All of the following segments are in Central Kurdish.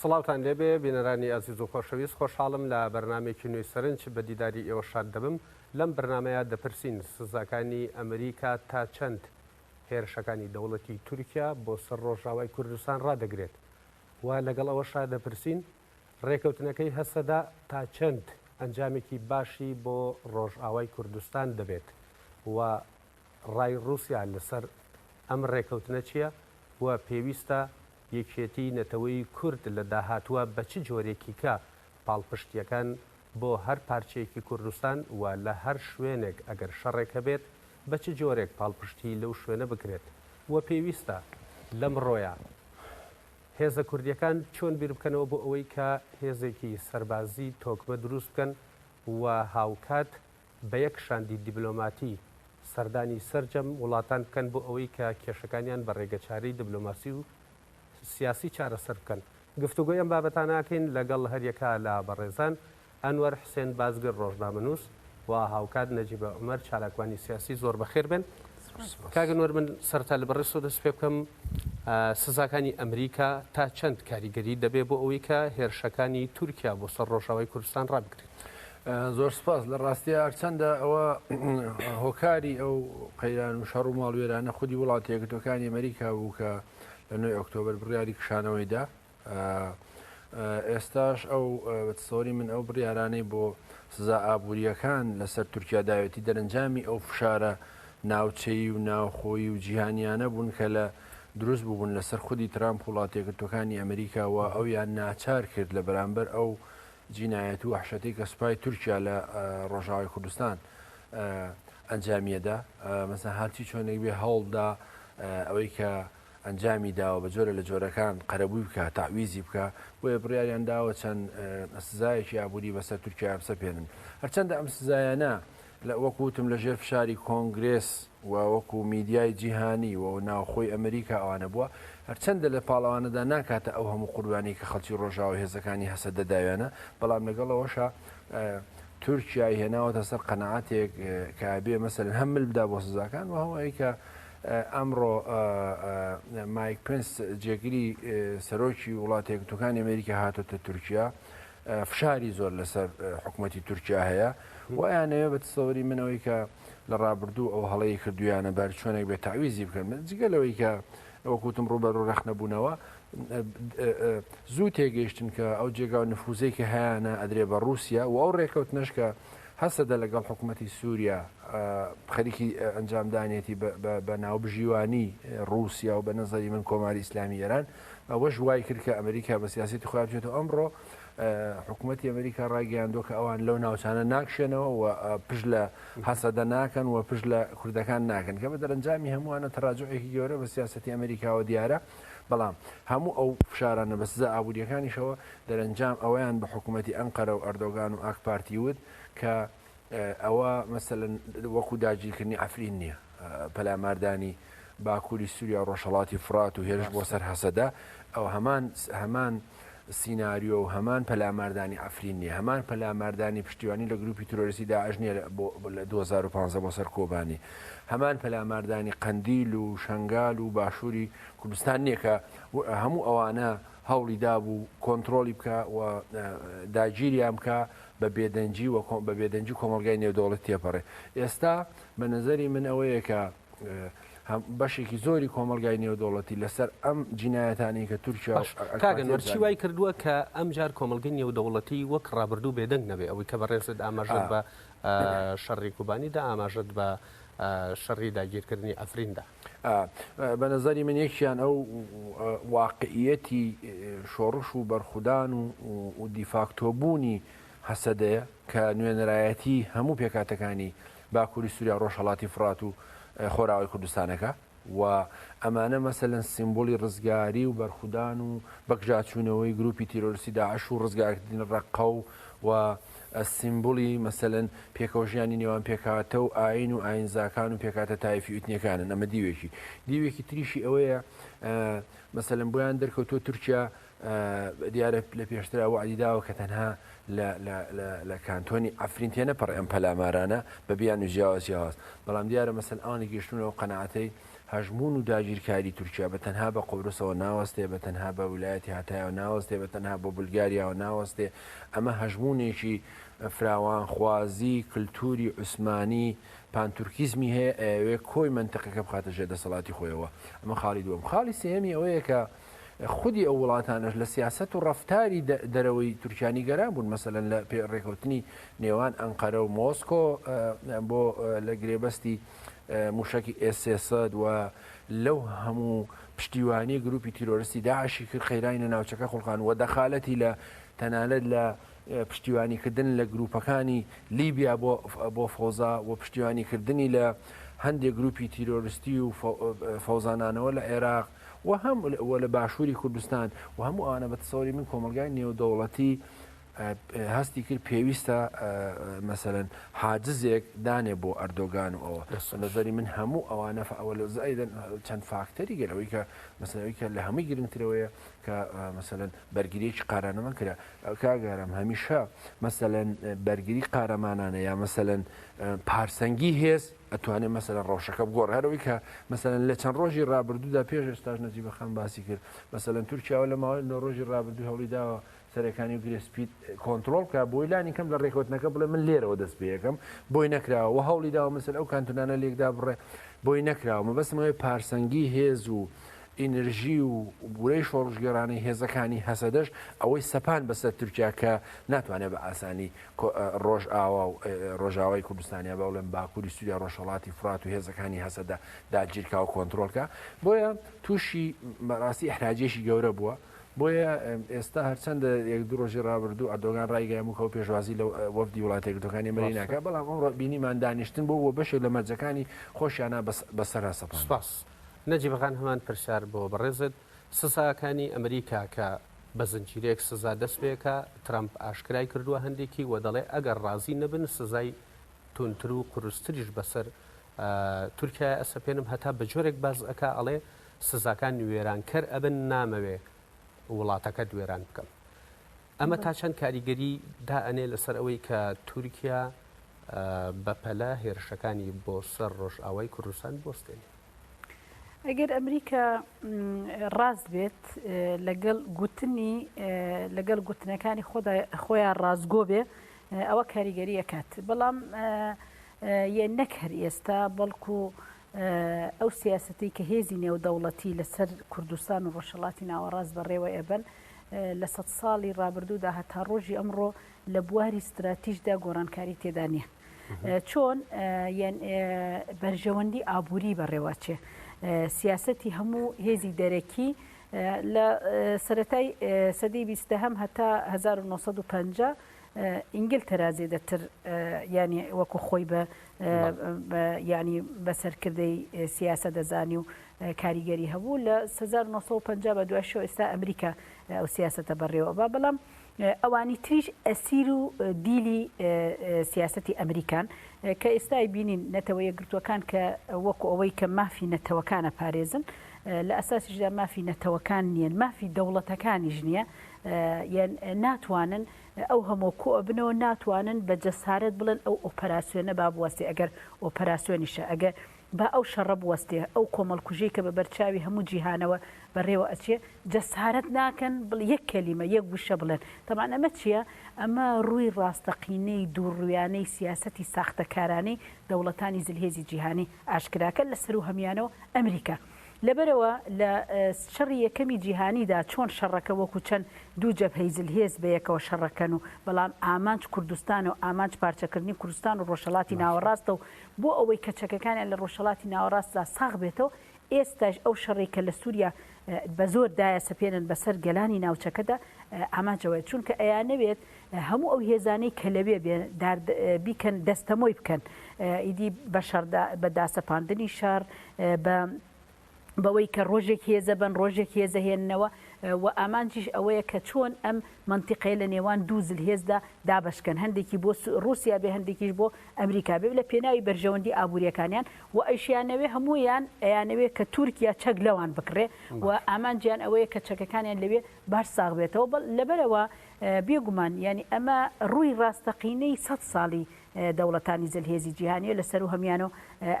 سڵاوتان لێبێ بینەرانی ئەزیز و خۆشەویست خۆشحاڵم لە بەرنامێکی نوێی سەرنج بە دیداری ئێوە شاد دەبم لەم بەرنامەیە دەپرسین سزاکانی ئەمریکا تا چەند هێرشەکانی دەوڵەتی تورکیا بۆ سەر ڕۆژاوای کوردستان ڕادەگرێت و لەگەڵ ئەوە شاد دەپرسین ڕێکەوتنەکەی هەسەدا تا چەند ئەنجامێکی باشی بۆ ڕۆژاوای کوردستان دەبێت و ڕای ڕووسیا لەسەر ئەم ڕێکەوتنە چییە و پێویستە یەکێتیی نەتەوەی کورد لە داهاتووە بە چ جۆرێکیکە پاڵپشتییەکان بۆ هەر پارچەیەکی کوردستان و لە هەر شوێنێک ئەگەر شەڕێک هەبێت بە چ جۆرێک پاڵپشتیی لەو شوێنە بکرێت و پێویستە لەمڕۆیە هێزە کوردییەکان چۆن بیربکەنەوە بۆ ئەوەی کە هێزێکی سەربازیی تۆکمە دروست بکەن و هاوکات بە یەک شاندی دیبلۆماتی سەردانی سەرجەم وڵاتان بکەن بۆ ئەوەی کە کێشەکانیان بە ڕێگەچارەی دبلۆماسی و سیاسی چارەسەر بکەن. گفتوگۆی ئەم بابەتانە ئەکەین لەگەڵ هەریەکە لە بەڕێزان، ئەنوەر حسێن بازگر ڕۆژنامەنووس و هاوکات نەجیبە عومەر چالاکوانی سیاسی زۆر بەخێر بێن. کاک ئەنوەر من سەرەتا لە بەڕێزتەوە دەست پێ بکەم، سزاکانی ئەمریکا تا چەند کاریگەری دەبێ بۆ ئەوەی کە هێرشەکانی تورکیا بۆ سەر ڕۆژاوای کوردستان ڕابگرێت؟ زۆر سپاس لە ڕاستیا هەرچەندە ئەوە هۆکاری ئەو قەیران و شەڕ و ماڵوێرانە خودی وڵاتی یەکگرتوەکانی ئەمریکا بوو کە لە نوێی ئۆکتۆبر بڕیاری کشانەوەیدا ئێستاش ئەو بەسەوری من ئەو بڕیارانەی بۆ سزا ئابوووریەکان لەسەر تورکیا داوێتی دەرەنجامی ئەو فشارە ناوچەیی و ناوخۆی و جیهانیانە بوون کە لە دروست بوون لەسەر خودی ترامپ وڵاتێکردەکانی ئەمریکاوە ئەویان ناچار کرد لە بەرامبەر ئەو جینایەت و وەحشەتەی کە سوپای تورکیا لە ڕۆژاوای کوردستان ئەنجامیەدا مەسە هەرچی چۆنێک بێ هەوڵدا ئەوەی کە ئەنجامی داوە بە جۆرە لە جۆرەکان قەرەبووی بکە تاویزی بکە بۆیە بڕیاریان داوە چەند سزایەکی ئابووری بەسەر تورکیا بسەپێنن هەرچەندە ئەم سزایانە وەکو وتم لە ژێر فشاری کۆنگرێس و وەکو میدیای جیهانی و ناوخۆی ئەمریکا ئەوانە بووە، هەرچەندە لە پاڵ ئەوانەدا ناکاتە ئەو هەموو قوربانیەی کە خەڵکی ڕۆژاوا و هێزەکانی هەسەدە داویانە، بەڵام لەگەڵ ئەوەشا تورکیای هێناوەتە سەر قەناعەتێک کە ئەبێ مەسەلەن هەم مل بدا بۆ سزاکان و هەم ئەوەی کە ئەمڕۆ مایک پنس جێگری سەرۆکی وڵاتە یەکگرتووەکانی ئەمریکا هاتۆتە تورکیا فشاری زۆر لەسەر حکومەتی تورکیا هەیە و ئەیانەوێ بە تسەوەری من ئەوەی کە لە ڕابردوو ئەو هەڵەی کردویانە بەر چۆنێک بێت تعویزی بکەن من جگە لەوەی کە وەکوتم ڕوبەرو ڕەخنەبوونەوە زوو تێگەیشتن کە ئەو جێگا و نفوزەی کە هەیەە ئەدرێ بە رووسیا و ئەو ڕێکەوتنش کە هەسەدە لەگەڵ حکوومەتتی سووریا خەریکی ئەنجامدانێتی بە ناوبژیوانی رووسیا و بە نەزەری من کۆماری ئیسلامی ئێران ئەوەش وایکرد کە ئەمریکا بە سیاسەتی خۆیان بچێتەوە، ئەمڕۆ حکومەتی ئەمریکا ڕایگەیاندووە کە ئەوان لەو ناوچانە ناکشێنەوە و پشت لە هەسەدە ناکەن و پشت لە کوردەکان ناکەن کە بە دەرەنجامی هەمووانە تەراجعێکی گەورە بە سیاسەتی ئەمریکاوە دیارە بەڵام هەموو ئەو فشارانە بە سزا ئابووریەکانیشەوە دەرەنجام ئەویان بە حکوومەتی ئەنقەرە و ئەردۆگان و ئاکپارتی وت کە ئەوە مەسەلەن وەکو داگیرکردنی عەفرین نییە، پەلاماردانی باکووری سووریا و ڕۆژهەڵاتی فورات و هێرش بۆ سەر هەسەدە، ئەوە هەمان هەمان سیناریۆ و هەمان پەلاماردانی عەفرین نییە، هەمان پەلاماردانی پشتیوانی لە گرووپی ترۆریستی داعش نییە لە بۆ لە دوو هەزار و پازدە بۆ سەر کۆبانی، هەمان پەلاماردانی قەندیل و شەنگال و باشووری کوردستان نییە کە هەموو ئەوانە هەوڵی دابوو کۆنترۆڵی بکا و داگیریان بکا، بە بێدەنگی و بە بێدەنگی کۆمەڵگای نێودەوڵەتی تێپەڕێ ئێستا بە نەزەری من ئەوەیە کە بەشێکی زۆری کۆمەلگای نێودەوڵەتی لەسەر ئەم جینایەتانی کە تورکیا کاگەنەرچی وای کردووە کە ئەم جار کۆمەلگەی نێودەوڵەتی وەک ڕابردوو بێدەنگ نەبێ ئەوەی کە بەڕێزت ئاماژەت بە شەڕی کوبانی دا ئاماژەت بە شەڕی داگیرکردنی ئەفریندا ئا بە نەزەری من یەکیان ئەو واقعیەتی شۆڕش و بەرخودان و و دیفاکتۆبوونی هەسەدەیە کە نوێنەرایەتی هەموو پێکاتەکانی باکووری سووریا ڕۆژهەڵاتی فڕات و خۆراوای کوردستانەکە و ئەمانە مەسەلەن سیمبولی ڕزگاری و بەرخودان و بەکجاچوونەوەی گروپی تیرۆرسی داعش و ڕزگارکردنی ڕەققە و و سیمبولی مەسەلەن پێکەوەژیانی نێوان پێکهاتە و ئایین و ئایینزاکان و پێکهاتە تایفی و ئیتنیەکانن ئەمە دیوێکی دیوێکی تریشی ئەوەیە مەسەلەن بۆیان دەرکەوتووە تورکیا دیارە لە پێشترا وعدی داوە کە تەنها لە کانتۆنی عفرین تێنەپەڕێ ئەم پەلامارانە بە بیان و جیاواز جیاواز بەڵام دیارە مەسەل ئەوان گەشتونەوە قەناعەتەی هەژموون و داگیرکاری تورکیا بە تەنها بە قوبرسەوە ناوەستێ، بە تەنها بە ولایەتی هاتایەوە ناوەستێ، بە تەنها بۆ بولگاریاوە ناوەستێ، ئەمە هەژموونێکی فراوانخوازی کلتوری عوسمانی پانتورکیزمی هەیە ئەیەوێ کۆی مەنتقەکە بخاتە ژێر دەسەڵاتی خۆیەوە، ئەمە خاڵی دووەم. خاڵی سێیەمی ئەوەیە کە خودی ئەو وڵاتانەش لە سیاسەت و ڕەفتاری دەرەوەی تورکیا نیگەران بوون، مەسەلەن لە پێ ڕێکەوتنی نێوان ئەنقەرە و مۆسکۆ بۆ لە گرێبەستی، موشەکی ئێس سێ سەد و لەو هەموو پشتیوانی گروپی تیرۆرستی داعشی کرد قەیرانی ناوچەکە خوڵقان و دەخالەتی لە تەنانەت لە پشتیوانیکردن لە گروپەکانی لیبیا بۆ فەوزا و پشتیوانیکردنی لە هەندێک گروپی تیرۆرستی و فەوزانانەوە لە عێراق و هەم لە باشووری کوردستان و هەموو ئەوانە بە تەسەوری من کۆمەلگای نێودەوڵەتی هەستی کرد پێویستە مەسەلەن حاجزێک دانێ بۆ ئەردۆگان و ئەوە بە نەزەری من هەموو ئەوانە ئەوە لە زائیدەن چەند فاکتەری گەل ئەوەی کە مەسەلەوەی کە لە هەمووی گرنگترەوەیە کە مەسەلەن بەرگریەکی قارانەمان کرا کاگارم هەمیشە مەسەلەن بەرگری قارەمانانە یا مەسەلەن پارسەنگی هێز ئەتوانێت مەسەلەن ڕەوشەکە بگۆڕ هەرەوەی کە مەسەلەن لە چەند ڕۆژی ڕابردوودا پێش ئێستاش نەجیبەخان باسی کرد مەسەلەن تورکیاوە لە ماوەی نۆ ڕۆژی ڕابردوو هەوڵی داوە سەرێکانی و گرێ سپیت کۆنتترۆل بکە بۆی لانی کەم لە ڕێکوتنەکە بڵێ من لێرەوە دەست پێەکەم بۆی نەکراوە و هەوڵی داوە مسل ئەو کانتونانە لێکدا بڕێ بۆی نەکراوە مەبەستمەوەی پارسەنگی هێز و ئینرژی و بورەی شۆڕژگەرانی هێزەکانی هەسەدەش ئەوەی سەپان بەسەر تورکیا کە ناتوانێت بە ئاسانی ڕۆژ ئاوا و ڕۆژاوای کوردستانیا بە بڵێن باکووری سووریا ڕۆژهڵاتی فرات و هێزەکانی هەسەدە داگیرکا و کۆنتترۆلکە بۆیە تووشی مەراسی حراجێکی گەورە بووە بۆیە ئێستا هەرچەندە یەک دوو ڕۆژی ڕابردوو ئەردۆگان ڕایگەیاموو کە ئەو پێشوازی لە وەفدی وڵاتە یەکگرتووەکانی ئەمەریکی ناکات، بەڵام ئەمڕۆ بینیمان دانیشتن بوو و بەشێک لە مەرجەکانی خۆشیانە بەسەرا سەپاند. سپاس نەجیب خان هەمان پرسیار بۆ بەڕێزت، سزاکانی ئەمریکا کە بە زنجیرەیەک سزا دەست پێکا ترەمپ ئاشکرای کردوە هەندێکی وە دەڵێ ئەگەر ڕازی نەبن سزای توندتر و قورستریش بەسەر تورکیایە ئەسەپێنم هەتا بەجۆرێک بەرز ئەکا ئەڵێ سزاکان وێرانکەر ئەبن نامەوێ وڵاتەکەت وێران بکەم ئەمە تا چەند کاریگەری دا ئەنێ لەسەر ئەوەی کە تورکیا بەپەلە هێرشەکانی بۆ سەر ڕۆژئاوای کوردستان بستێنێ ئەگەر ئەمریکا ڕاست بێت لەگەڵ گوتنی لەگەڵ گوتنەکانی خۆیان ڕاستگۆ بێ ئەوە کاریگەریەکات بەڵام یە نەک هەر ئێستا بەڵکو ئەو سیاسەتەی کە هێزی نێودەوڵەتی لەسەر کوردستان و ڕۆژهەڵاتی ناوەڕاست بەڕێوە ئەبەن لە سەد ساڵی ڕابردوودا هەتا ڕۆژی ئەمڕۆ لە بواری ستراتیژدا گۆڕانکاری تێدا نییە. چۆن بەرژەوەندی ئابووری بەڕێواچێ سیاستی هەموو هێزی دەرەکی لە سەتای سەدەی بیستە هەم هەتا 1950 ئینگلتەرا زێدەتر یانی وەکو خۆی بە ینی بە سەرکردەی سیاسە دەزانی و کاریگەری هەبوو لە 1950 بە دوای شۆ ئێستا ئەمریکا ئەو سیاستە بەڕێوە بە بەڵام ئەوانی تریش ئەسیر و دیلی سیاستی ئەمریکان کە ئێستای بینین نەتەوە یەکگرتوەکان کە وەکو ئەوەی کە مافی نەتەوەکانە پارێزن لە ئەساسیشدا مافی نەتەوەکان نییە مافی دەوڵەتەکانیش نییە یە ناتوانن ئەو هەموە کۆ ئەبنەوە ناتوانن بە جەسارەت بڵێن ئەو ئۆپەراسیۆنە با بوەستێ ئەگەر ئۆپەراسیۆنیشە ئەگە با ئەو شەڕە بوەستێ ئەو کۆمەڵکوژی کە بە بەرچاوی هەموو جیهانەوە بەڕێوە ئەچێ جەسارەت ناکەن بڵ یەک کەلیمە یەک گوشە بڵێن تەمان ئەمە چییە ئەمە ڕووی ڕاستەقینەی دووڕویانەی سیاسەتی ساختەکارانەی دەوڵەتانی زلهێزی جیهانی ئاشکراکە لە سەروو هەمیانەوە ئەمریکا. لەبەرئەوە لە شەڕی یەکەمی جیهانیدا چۆن شەڕەکە وەکو چەند دوو جەبهەی زلهێز بەیەکەوە شەڕەکەن و بەڵام ئامانج کوردستانە و ئامانج پارچەکردنی کوردستان و ڕۆژهەڵاتی ناوەڕاستە و بۆ ئەوەی کە چەکەکانیان لە ڕۆژهەڵاتی ناوەڕاستدا ساغ بێتەوە ئێستایش ئەو شەڕەی کە لە سوریا بەزۆر دایەسەپێنن بەسەر گەلانی ناوچەکەدا ئامانج ئەوەیە چونکە ئەیانەوێت هەموو ئەو هێزانەی کە لەوێ بێ دار بیکەن دەستەمۆی بکەن ئیدی بە شەڕدا بە داسەپاندنی شەڕ بە بەوەی کە ڕۆژێک هێزە بن ڕۆژێک هێزە هێننەوە و ئامانجیش ئەوەیە کە چۆن ئەم منتیقەیە لە نێوان دوو زل هێزدا دابشکەن هەندێکی بۆ رووسیا بێ هەندێکیش بۆ ئەمریکا بێ لە پێناوی بەرژەوەندی ئابووریەکانیان و ئەیشیانەوێ هەمویان ئەیانەوێ کە تورکیا چەک لەوان بکڕێ و ئامانجیان ئەوەیە کە چەکەکانیان لەوێ باش ساغ بێتەوە بەڵ لەبەرئەوە بێ گومان یانی ئەمە ڕووی ڕاستەقینەی سەد ساڵی دەوڵەتانی زلهێزی جیهانیە لە سەروو هەمیانەو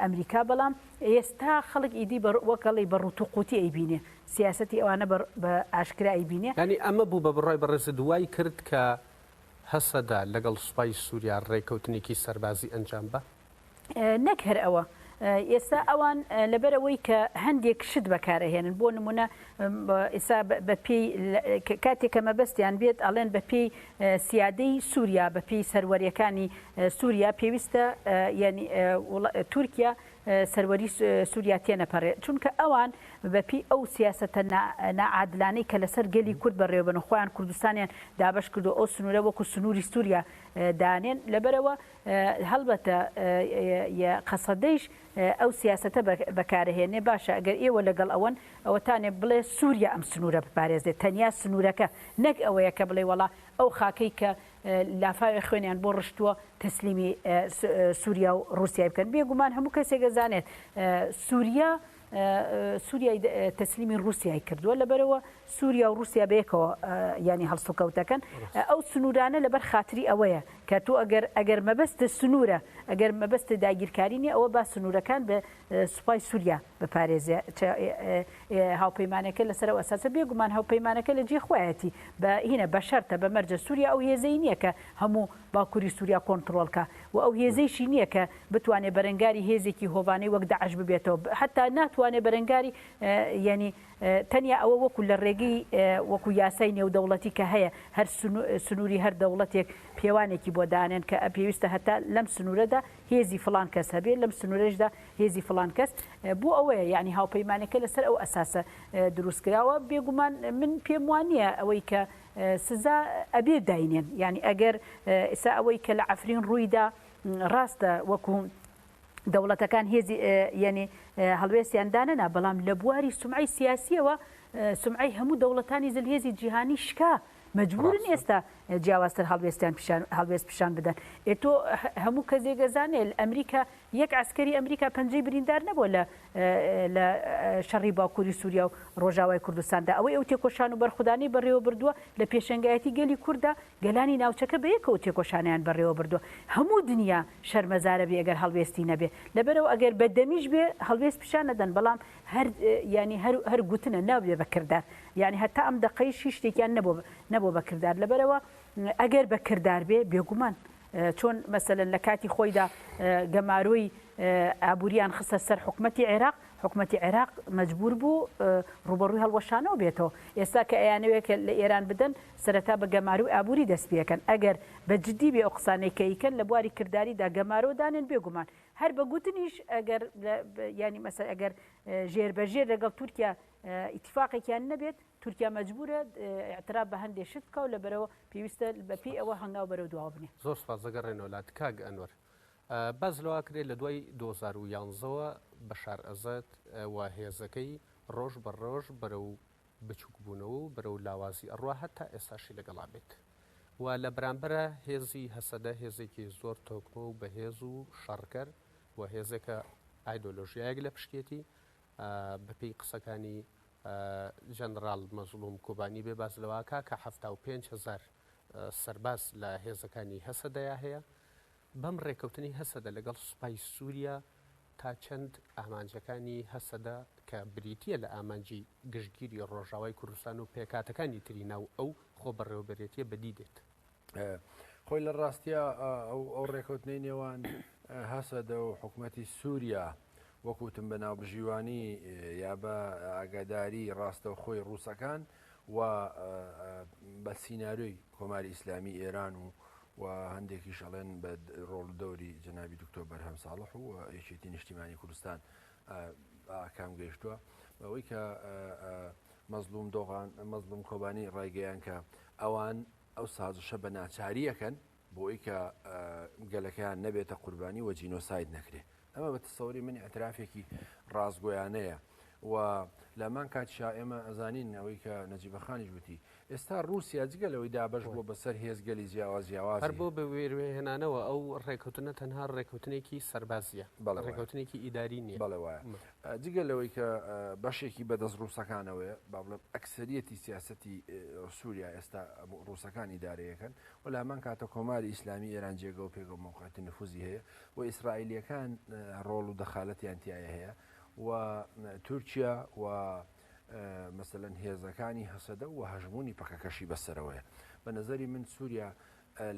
ئەمریکا بەڵام ئێستا خەڵک ئیدی بە وەک ئەڵێی بە ڕووت و قووتی ئەیبینێ سیاسەتی ئەوانە بە بە ئاشکرا ئەیبینێ. یانی ئەمە بوو بە بڕای بەڕێزت وای کرد کە هەسەدە لەگەڵ سوپای سوریا ڕێکەوتنێکی سەربازی ئەنجام با؟ نەک هەر ئەوە ئێستا ئەوان لەبەرەوەی کە هەندێک شت بەکارەهێنن بۆ نمونە ئێسا بەپی کاتێک کە مەبەستیان بێت ئەڵێن بەپی سیادەی سووریا بەپی سەروەریەکانی سووریا پێویستە ینی تورکیا سەروەری سووریا تێنەپەڕێت چونکە ئەوان بەپی ئەو سیاستە نعادلانەی کە لەسەر گەلی کورد بەڕێوەبن خۆیان کوردستانیان دابش کردو ئەو سنوورە وەکو سنووری سووریا دانێن لەبەرەوە هەڵبەتە ی قەسەدەیش ئەو سیاسەتە بەکارەهێنێ، باشە گەر ئێوە لەگەڵ ئەوەن، ئەوەتانێ بڵێ سووریا ئەم سنوورە بپارێزێ، تەنیا سنوورەکە، نەک ئەوەیە کە بڵێ وەڵا ئەو خاکەی کە لافاوێ خوێنیان بۆ ڕشتووە تەسلیمی سووریا و ڕووسیای بکەن، بێگومان هەموو کەسێک ئەزانێت سووریا سوریای تەسلیمی ڕوسیای کردووە لەبەرەوە سوریا و ڕوسیا بەیەکەوە یانی هەڵسوکەوتەکەن ئەو سنوورانە لەبەر خاتری ئەوەیە کە تۆ ئەگەر ئەگەر مەبەستە سنوورە ئەگەر مەبەستە داگیرکارینی ئەوە با سنوورەکان بە سوپای سووریا بپارێزێ هاوپەیمانەکە لەسەر ئەساسە بێگومان هاوپەیمانەکە لە جێ خویەتی بە هینە بەشەرتە بە مەرجە سووریا ئەو هێزەی نییە کە هەموو باکوری سوریا کۆنتڕۆڵ کا و ئەو هێزەیشی نیە کە بتوانێ بەرەنگاری هێزێکی هۆڤانەی وەک داعش ببێتەوە ب حەتا ناتوانێ بەرەنگاری یانی تەنیا ئەوە وەکو لە ڕێگەی وەکو یاسای نێودەوڵەتی کە هەیە هەر سنو سنوری هەر دەوڵەتێک پێوانێکی بۆ دانێن کە پێویستە هەتا لەم سنورەدا هێزی فڵان کەس هەبێ لەم سنورەشدا هێزی فڵان کەس بۆ ئەوەیە یانی هاوپەیمانەکە لەسەر ئەو ئەساسە دروست کراوە بێگومان من پێم وانیە ئەوەی کە سزا ئەبێ داینێن یانی ئەگەر ئیسا ئەوەی کە لە عەفرین ڕوویدا ڕاستە وەکو دەوڵەتەکان هێزی یعنی هەڵوێستیان دانەنا بەڵام لە بواری سمعی سیاسیەوە سمعی هەموو دەوڵەتانی زلهێزی جیهانی شکا مجبورن ئێستا جیاوازتر هەڵوێستیان هەڵوێست پیشان بدەن ئێتۆ هەموو کەسێگەزانێت ئەمریکا یەک عەسکەری ئەمریکا پەنجەی بریندار نەبووە لە لە شەڕی باکووری سووریا و ڕۆژاوای کوردستاندا، ئەوەی ئەو تێکۆشان و بەرخودانەی بەڕێوەبردووە لە پێشەنگایەتی گەلی کوردە، گەلانی ناوچەکە بەیەکەوە تێکۆشانیان بەڕێوەبردووە، هەموو دنیا شەرمەزارەبێ گەر هەڵوێستی نەبێ، لەبەرئەوە ئەگەر بە دەمیش بێ هەڵوێست پیشان ئەدەن، بەڵام هەر یانی هەر هەر گوتنە نابێ بە کردار، یانی هەتا ئەم دەقەیش هیچ شتێکیان نەبووە نەبووە بە کردار، لەبەرئەوە ئەگەر بە کردار بێ بێگومان چۆن مەسەلەن لە کاتی خۆیدا گەمارۆی ئابوورییان خستە سەر حکومەتی عێراق، حکومەتی عێراق مەجبوور بوو ڕووبەڕووی هەڵوەشانەوە بێتەوە، ئێستا کە ئەیانەوێ کە لە ئێران بدەن، سەرەتا بە گەمارۆی ئابووری دەست پێ کەن، ئەگەر بە جددی بێ ئەو قسانەی کە ئیکەن لە بواری کرداریدا گەمارۆ دانێن، بێ گومان هەر بە گوتنیش ئەگەر یانی مەسەلە ئەگەر ژێربەژێر لەگەڵ تورکیا ئیتیفاقێکیان نەبێت، تورکیا مەجبورە ئیعتراف بە هەندێ شت بکا و لەبەرەوە پێویستە بە پێی ئەوە هەنگاو بەرەو دواوە بنێ. زۆر سوپاس دەگەڕێنەوە لات کاک ئەنوەر باس لەوە کرێ لە دوای دوو هەزار و یانزە وە بەشار ئەزەد و هێزەکەی ڕۆژ بە ڕۆژ بەرەو بچووک بوونەوە و بەرەو لاوازی ئەڕوا هەتا ئێستاشی لەگەڵا بێت و لە بەرامبەرا هێزی هەسەدە هێزێکی زۆر تۆکمە و بەهێز و شەڕکەر و هێزێکە ئایدۆلۆژیایەک لە پشتێتی بەپێی قسەکانی ژەنڕاڵ مەزڵوم کۆبانی، بێ باس لەوە کە حەفتا و پێنج هەزار سەرباز لە هێزەکانی هەسەدەیا هەیە، بەم ڕێکەوتنەی هەسەدە لەگەڵ سوپای سوریا تا چەند ئامانجەکانی هەسەدە کە بریتییە لە ئامانجی گشتگیری ڕۆژاوای کوردستان و پێکهاتەکانی تری ناو ئەو خۆبەڕێوەبەرێتییە بەدی دێت؟ خۆی لە ڕاستیا ئەو ڕێکوتنەی نێوان هەسەدە و حکوومەتی سووریا وەکوتم بە ناوبژیوانی یا بە ئاگاداری ڕاستە خۆی ڕووسەکان و بە سینناروی کۆماری ئیسلامی ئێران و و هەندێکی شەڵێن بە ڕۆڵ دەوری جنابی دکتۆر بەرهەم ساڵح و یەکێتی نیشتیمانی کوردستان ئاکام گەیشتووە بەوەی کە مەزلوم دۆغان مەزلوم کۆبانی ڕایگەیان کە ئەوان ئەو سازشە بە ناچاری ئەکەن بۆی کە گەلەکەیان نەبێتە قوربانی وە جینۆساید نەکرێ ئەمە بە تەسەوری من ئەترافێکی ڕاستگۆیانەیە و لەمان کاتشا ئێمە ئەزانین ئەوەی کە نەجیبەخانیش وتی ئێستا رووسیا جگە لەوەی دابش بۆ بەسەر هێزگەلی جیاواز جیاواز هەر بۆ بە وێروێهێنانەوە ئەو ڕێکوتنە تەنها ڕێکوتنێکی سەربازیە بەڵێ ڕێکوتنێکی ئیداری نیە بەڵێ وایە جگە لەوەی کە بەشێکی بەدەست ڕووسەکانەوەیە، با بڵێم ئەکسەریەتی سیاسەتی سووریا ئێستا ڕووسەکان ئیدارەیەکەن و لە هەمان کاتە کۆماری ئیسلامی ئێران جێگە و پێگە و مەوقعەتی نفوزی هەیە و ئیسرائیلەکان ڕۆڵ و دەخالەتیان تایە هەیە و تورکیا و مەسەەن هێزەکانی هەسەدە و هەژمونی پەکەکەشی بەسەرەوەیە بە نظری من سووریا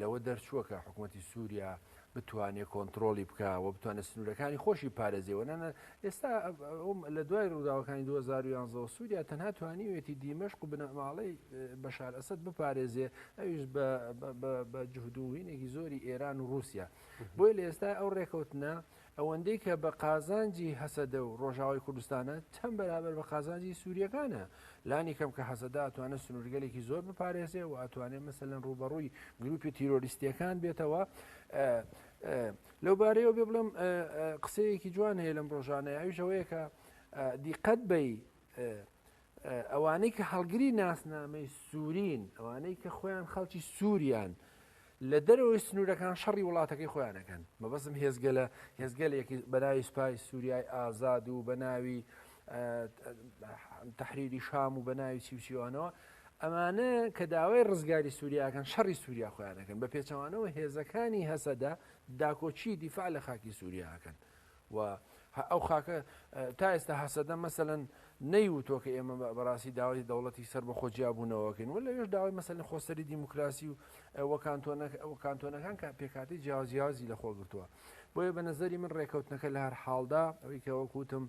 لەوە دەرچووە کە حکومەتی سووریا بتوانێت کۆنتترۆلی بکە و بتوانێت سنوورەکانی خۆشی پارێزیەوە نانە ئێستا لە دوای ڕووداوەکانی 2011 سووریا تەنها توانیوێتی دیمەشق و بنەماڵەی بەشار ئەسد بپارێزێ ئەویش بە جهدوهینێکی زۆری ئێران و رووسیا بۆی لە ئێستا ئەو ڕێکەوتنە و ئەوەندەی کە بە قازانجی هەسەدە و ڕۆژاوای کوردستانە، چەند بەرابەر بە قازانجی سورییەکانە؟ لانی کەم کە هەسەدە ئەتوانێ سنوورگەلێکی زۆر بپارێزێ و ئەتوانێ مەسەلەن ڕووبەڕووی گرووپی تیرۆریستییەکان بێتەوە. لەو بارەیەوە بێ بڵێم قسەیەکی جوان هەیە لەم ڕۆژانە، ئەویش ئەوەیە کە دیقەت بەی ئەوانەی کە هەڵگری ناسنامەی سوورین، ئەوانەی کە خۆیان خەڵکی سووریان، لە دەرەوەی سنوورەکان شەڕی وڵاتەکەی خۆیان ئەکەن. مەبەستم هێزگەلە هێزگەلێکی بە ناوی سوپای سووریای ئازاد و بە ناوی تەحریری شام و بە ناوی چی و چیوانەوە، ئەمانە کە داوای ڕزگاری سووریاکەن شەڕی سووریا خۆیانەکەن بە پێچەوانەوە هێزەکانی هەسەدە داکۆچی دیفاع لە خاکی سووریاکەن و هە ئەو خاکە تا ئێستا هەسەدە مەسەلەن نەیوتوە کە ئێمە بەڕاستی داوای دەوڵەتی سەر بە خۆ جیابوونەوەکەین و لەوێش داوای مەسەلەن خۆسەری دیموکراسی و کانتۆنەکان کە پێکاتی جیاوازیاوازی لە خۆ گرتووە بۆیە بە نظری من ڕێکەوتنەکە لە هەر حاڵدا ئەوی کە وەکوتم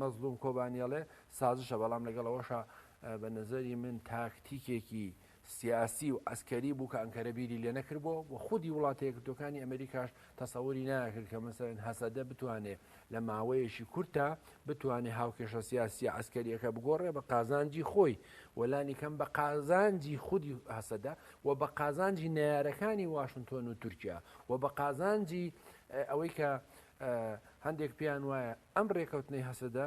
مەزلوم کۆبانیەڵێ سازشە بەڵام لەگەڵەوەشە بە نظری من تاکتیکێکی سیاسی و عەسکەری بوو کە ئەنکەرە بیری لێ نەکردبوو و خودی وڵاتە یەکگرتووەکانی ئەمریکاش تەسەوری ناکرد کە مەسەلەن هەسەدە بتوانێ لە ماوەیەکی کورتا بتوانێ هاوکێشە سیاسییە عەسکەرییەکە بگۆڕێ بە قازانجی خۆی و لانی کەم بە قازانجی خودی هەسەدە و بە قازانجی نەیارەکانی واشنتۆن و تورکیا و بە قازانجی ئەوەی کە هەندێک پێیان وایە ئەم ڕێکەوتنەی هەسەدە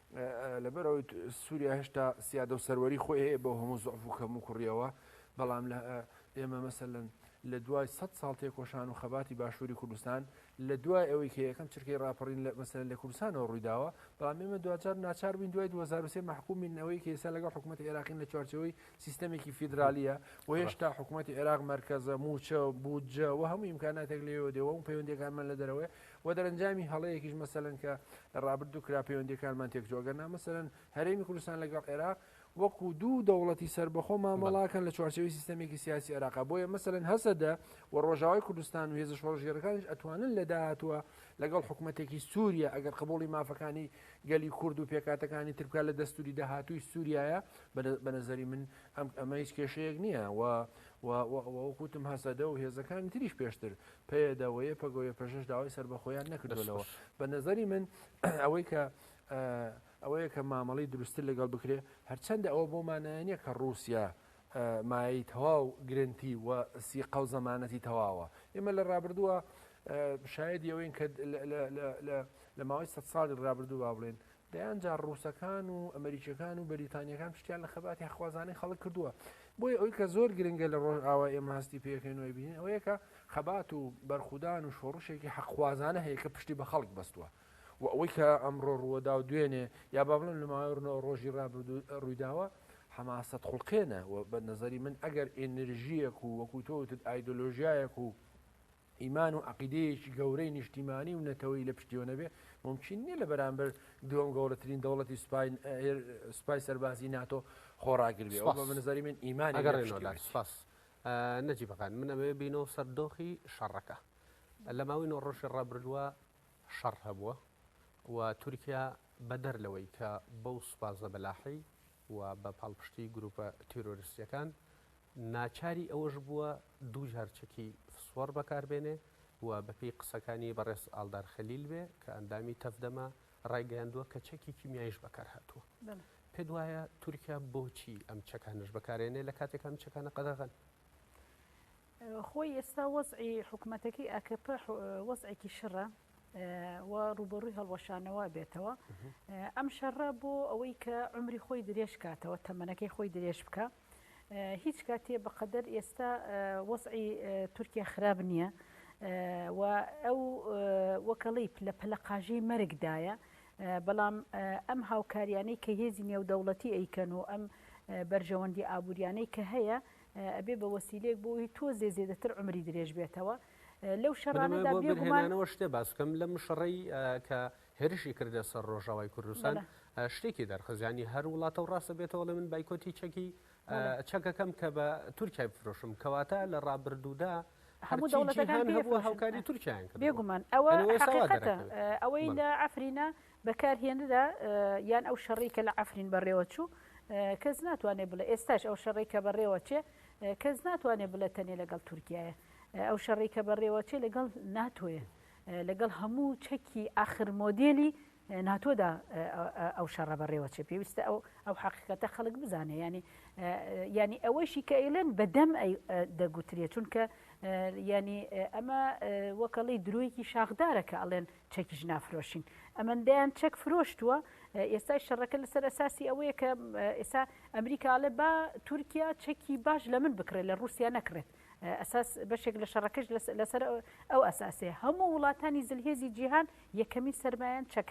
لەبەر ئەوەی سووریا هێشتا سیادە و سەروەری خۆی هەیە بۆ هەموو زعف و کەم و کوڕیەوە بەڵام لە ئێمە مەسەن لە دوای سە ساڵ تێکۆشان و خەباتی باشووری کوردستان لە دوای ئەوەی کە یەکەم چرکەی راپەڕین لە مەسەن لە کوردستانەوە ڕوویداوە بەڵام ئێمە دوجار ناچار بووین دوای 2023 محکومینەوەی کە ئێستا لەگەڵ حکوومەت عێراقین لە چوارچەوەی سیستەمێکی فیدراالیە و هێشتا حکوومەتتی عێراق مرکزە موچە بودجە و هەموو ئیمکاناتێک لێوە دێەوە و پەیوەندەکانمان لە دەرەوەی وە دەرەنجامی هەڵەیەکیش مەسەلەن کە لە ڕابردوو کرا پەیوەندیەکانمان تێکچوو ئەگەرنا مەسەلەن هەرێمی کوردستان لەگەڵ عێراق وەکو دوو دەوڵەتی سەربەخۆ مامەڵاکەن لە چوارچێوەی سیستەمێکی سیاسی عێراقا بۆیە مەسەلەن هەسەدە و ڕۆژاوای کوردستان و هێزە شۆڕشگێڕەکانیش ئەتوانن لە داهاتووە لەگەڵ حکومەتێکی سووریا ئەگەر قبوڵی مافەکانی گەلی کورد و پێکاتەکانی تر بکات لە دەستوری داهاتووی سووریایە بە نەزەری من ئەم ئەمە هیچ کێشەیەک نییە و وەکوتم هەسەدە و هێزەکانی تریش پێشتر پەیەدە و یەپەگە و یەپەژەش داوای سەربەخۆییان نەکردوونەوە. بە نەزەری من ئەوەی کە ئەوەیە کە مامەڵی دروستتر لەگەڵ بکرێ، هەرچەندە ئەوە بۆ مانایە نیە کە ڕووسیا مایەی تەواو گرەنتی و سیقە و زەمانەتی تەواوە. ئێمە لە ڕابردووە شایەدی ئەوەین کە لە ماوەی سەد ساڵی ڕابردوو با بڵێن دەیان جار ڕووسەکان و ئەمەریکیەکان و بەریتانیەکان پشتیان لە خەباتی هەقخوازانەی خەڵک کردووە بۆیە ئەوی کە زۆر گرنگە لە ڕۆژئاوا ئێمە هەستی پێکەین و ئەیبینین ئەوەیە کە خەبات و بەرخودان و شۆڕشێکی هەقخوازانە هەیە کە پشتی بە خەڵک بەستووە و ئەوەی کە ئەمڕۆ ڕووەدا و دوێنێ یا با بڵێن لە ماوەڕنەوە ڕۆژی ڕابردوو ڕوویداوە حەماسەت خوڵقێنە و بە نەزەری من ئەگەر ئێنرژیەک و وەکو تۆوتت ئایدۆلۆژیایەک و ئیمان و عەقیدەیەکی گەورەی نیشتیمانی و نەتەوەیی لە پشتیەوە نەبێت، مومکین نییە لە بەرامبەر دووەم گەورەترین دەوڵەتی سوپای سەربازی ناتۆ خۆڕاگر بێت. ئەوە بە نەزەری من ئیمانی لە پشتیەوە نەبێت. ئەگەڕێنەوە لای سوپاس نەجیبەکان، من ئەمەوێت بێینەوە سەر دۆخی شەڕەکە. لە ماوەی نۆ ڕۆژی ڕابردووە شەڕ هەبووە و تورکیا بەدەر لەوەی کە بەو سوپا زەبەلاحەی و بە پاڵپشتی گرووپە تیرۆریستییەکان ناچاری ئەوەش بووە دوو جار چەکی فسفۆڕ بەکاربێنێ و بەپێی قسەکانی بەڕێز ئاڵدار خەلیل بێ کە ئەندامی تەڤدەمە ڕایگەیاندووە کە چەکی کیمیایش بەکارهاتووە. پێت وایە تورکیا بۆچی ئەم چەکانەش بەکارێنێ لە کاتێکا ئەم چەکانە قەدەغەن؟ خۆی ئێستا وەزعی حکومەتەکەی ئاکەپە وەزعێکی شڕە و ڕووبەڕووی هەڵوەشانەوە بێتەوە. ئەم شەڕە بۆ ئەوەی کە عومری خۆی درێژ کاتەوە، تەمەنەکەی خۆی درێژ بکا. هیچ کاتێ بەقەدەر ئێستا وەزعی تورکیا خراپ نییە و ئەو وەکەڵیپ لە پەلەقاژەی مەرگدایە، بەڵام ئەم هاوکاریانەی کە هێزی نێودەوڵەتی ئەیکەن و ئەم بەرژەوەندیە ئابووریانەی کە هەیە ئەبێ بە وەسیلەیەک بۆ ئەوەی تۆزێ زێدەتر عومری درێژ بێتەوە لەو شەڕانەدا. بێگومان. بۆ بەرهەمانەوە شتێ باس بکەم لەم شەڕەی کە هێرشی کردە سەر ڕۆژاوای کوردستان شتێکی دەرخست ینی هەر وڵاتە و ڕاستە بێتەوەڵێ من بایکۆتی چەکی چەکەکەم کە بە تورکای بفرۆشم کەواتە لە ڕابردوودا هەموو دەوڵەتەکان هەبوو هاوکاری تورکیان بێگومان ئەوە ئەوەی لە ئەفرینە بەکارهێنرا یان ئەو شەڕی کە لە ئەفرین بەڕێوە چوو کەس ناتوانێت بڵێ ئێستاش ئەو شەڕی کە بەڕێوە چێ کەس ناتوانێت بڵێ تەنێ لەگەڵ تورکایە ئەو شەڕی کە بەڕێوە چێ لەگەڵ ناتۆیە لەگەڵ هەموو چەکی ئاخر مۆدێلی ناتۆدا ئەو شەڕە بەڕێوە چێ پێویستە ئەو ئەو حقیقەتە خەڵک بزانێ ینی ینی ئەوەشی کە ئەیلێن بەدەم دەگوترێت چونکە ینی ئەمە وەکەڵی درۆیەکی شاخدارە کە ئەڵێن چەکیش نافرۆشین ئەمەندەیان چەک فرۆشتووە ئێستای شەڕەکە لەسەر ئەساسی ئەوەیە کە ئێستا ئەمریکاڵێ با تورکیا چەکی باش لە من بکڕێت لە رووسیا نەکڕێت ئەساس بەشێک لە شەڕەکەش لەسەر ئەو ئەساسەیە هەموو وڵاتانی زلهێزی جیهان یەکەمین سەرمایەن چەک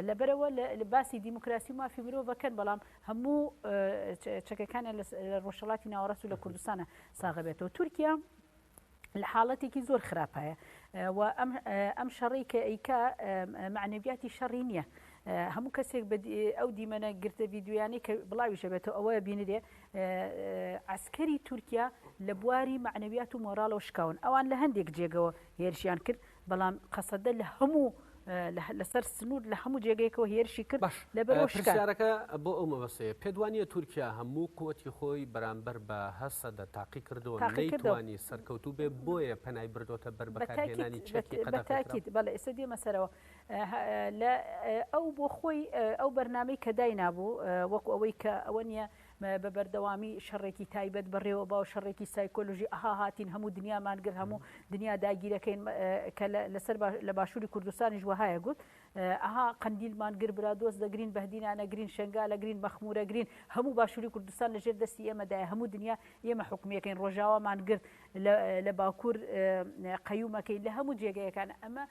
لەبەرەوە لە باسی دیموکراسی و مافی مرۆڤەکەن بەڵام هەموو چەکەکانە لە ڕۆژهڵاتی ناوەڕاست و لە کوردستانە ساغەبێتەوە تورکیا لە حاڵەتێکی زۆر خراپایە و ئەم شەڕی کە ئەیکا معنەویاتی شەڕی نییە هەموو کەسێک ئەو دیمەنە گرتە ویددیویانی کە بڵاویشەبێتەوە ئەوە بینرێ عەسکەری تورکیا لە بواری مەعنەویات و مۆراڵەوە شکاون، ئەوان لە هەندێک جێگەوە هێرشیان کرد، بەڵام قەسەدە لە هەموو لەسەر سنوور لە هەموو جێگەیەکەوە هێرشی کرد لەبەرەوە شکاند. پرسیارەکە بۆ ئەو مەبەستەیە، پێت وانییە تورکیا هەموو قوتی خۆی بەرامبەر بە هەسەدە تاقی کردووە و نەیتوانی سەرکەوتوو بێت بۆیە پەنای بردۆتە بەر بەکارهێنانی چەکی قەدەغەکراو؟ بەتاکید، بەڵێ ئێستا دێمە سەرەوە، لە ئەو بۆ خۆی ئەو بەرنامەی کە داینابوو وەکو ئەوەی کە ئەوە نیە بە بەردەوامی شەڕێکی تایبەت بەڕێوە باو شەڕێکی سایکۆلژی ئەها هاتین هەموو دنیامان گر هەموو دنیا داگیرەکەین کە لەسەر لە باشووری کوردستانیش وهایە گوت ئەها قندیلمان گر برا دۆست دەگرین بەدینانە گرین شنگا لە گرین مەخمورە گرین هەموو باشووری کوردستان لە ژێر دەستی ئێمەدای هەموو دنیا ئێمە حکومیەکەین ڕۆژاوامان گرت لە باکوور قەیومەکەی لە هەموو جێگەیەکان ئەمە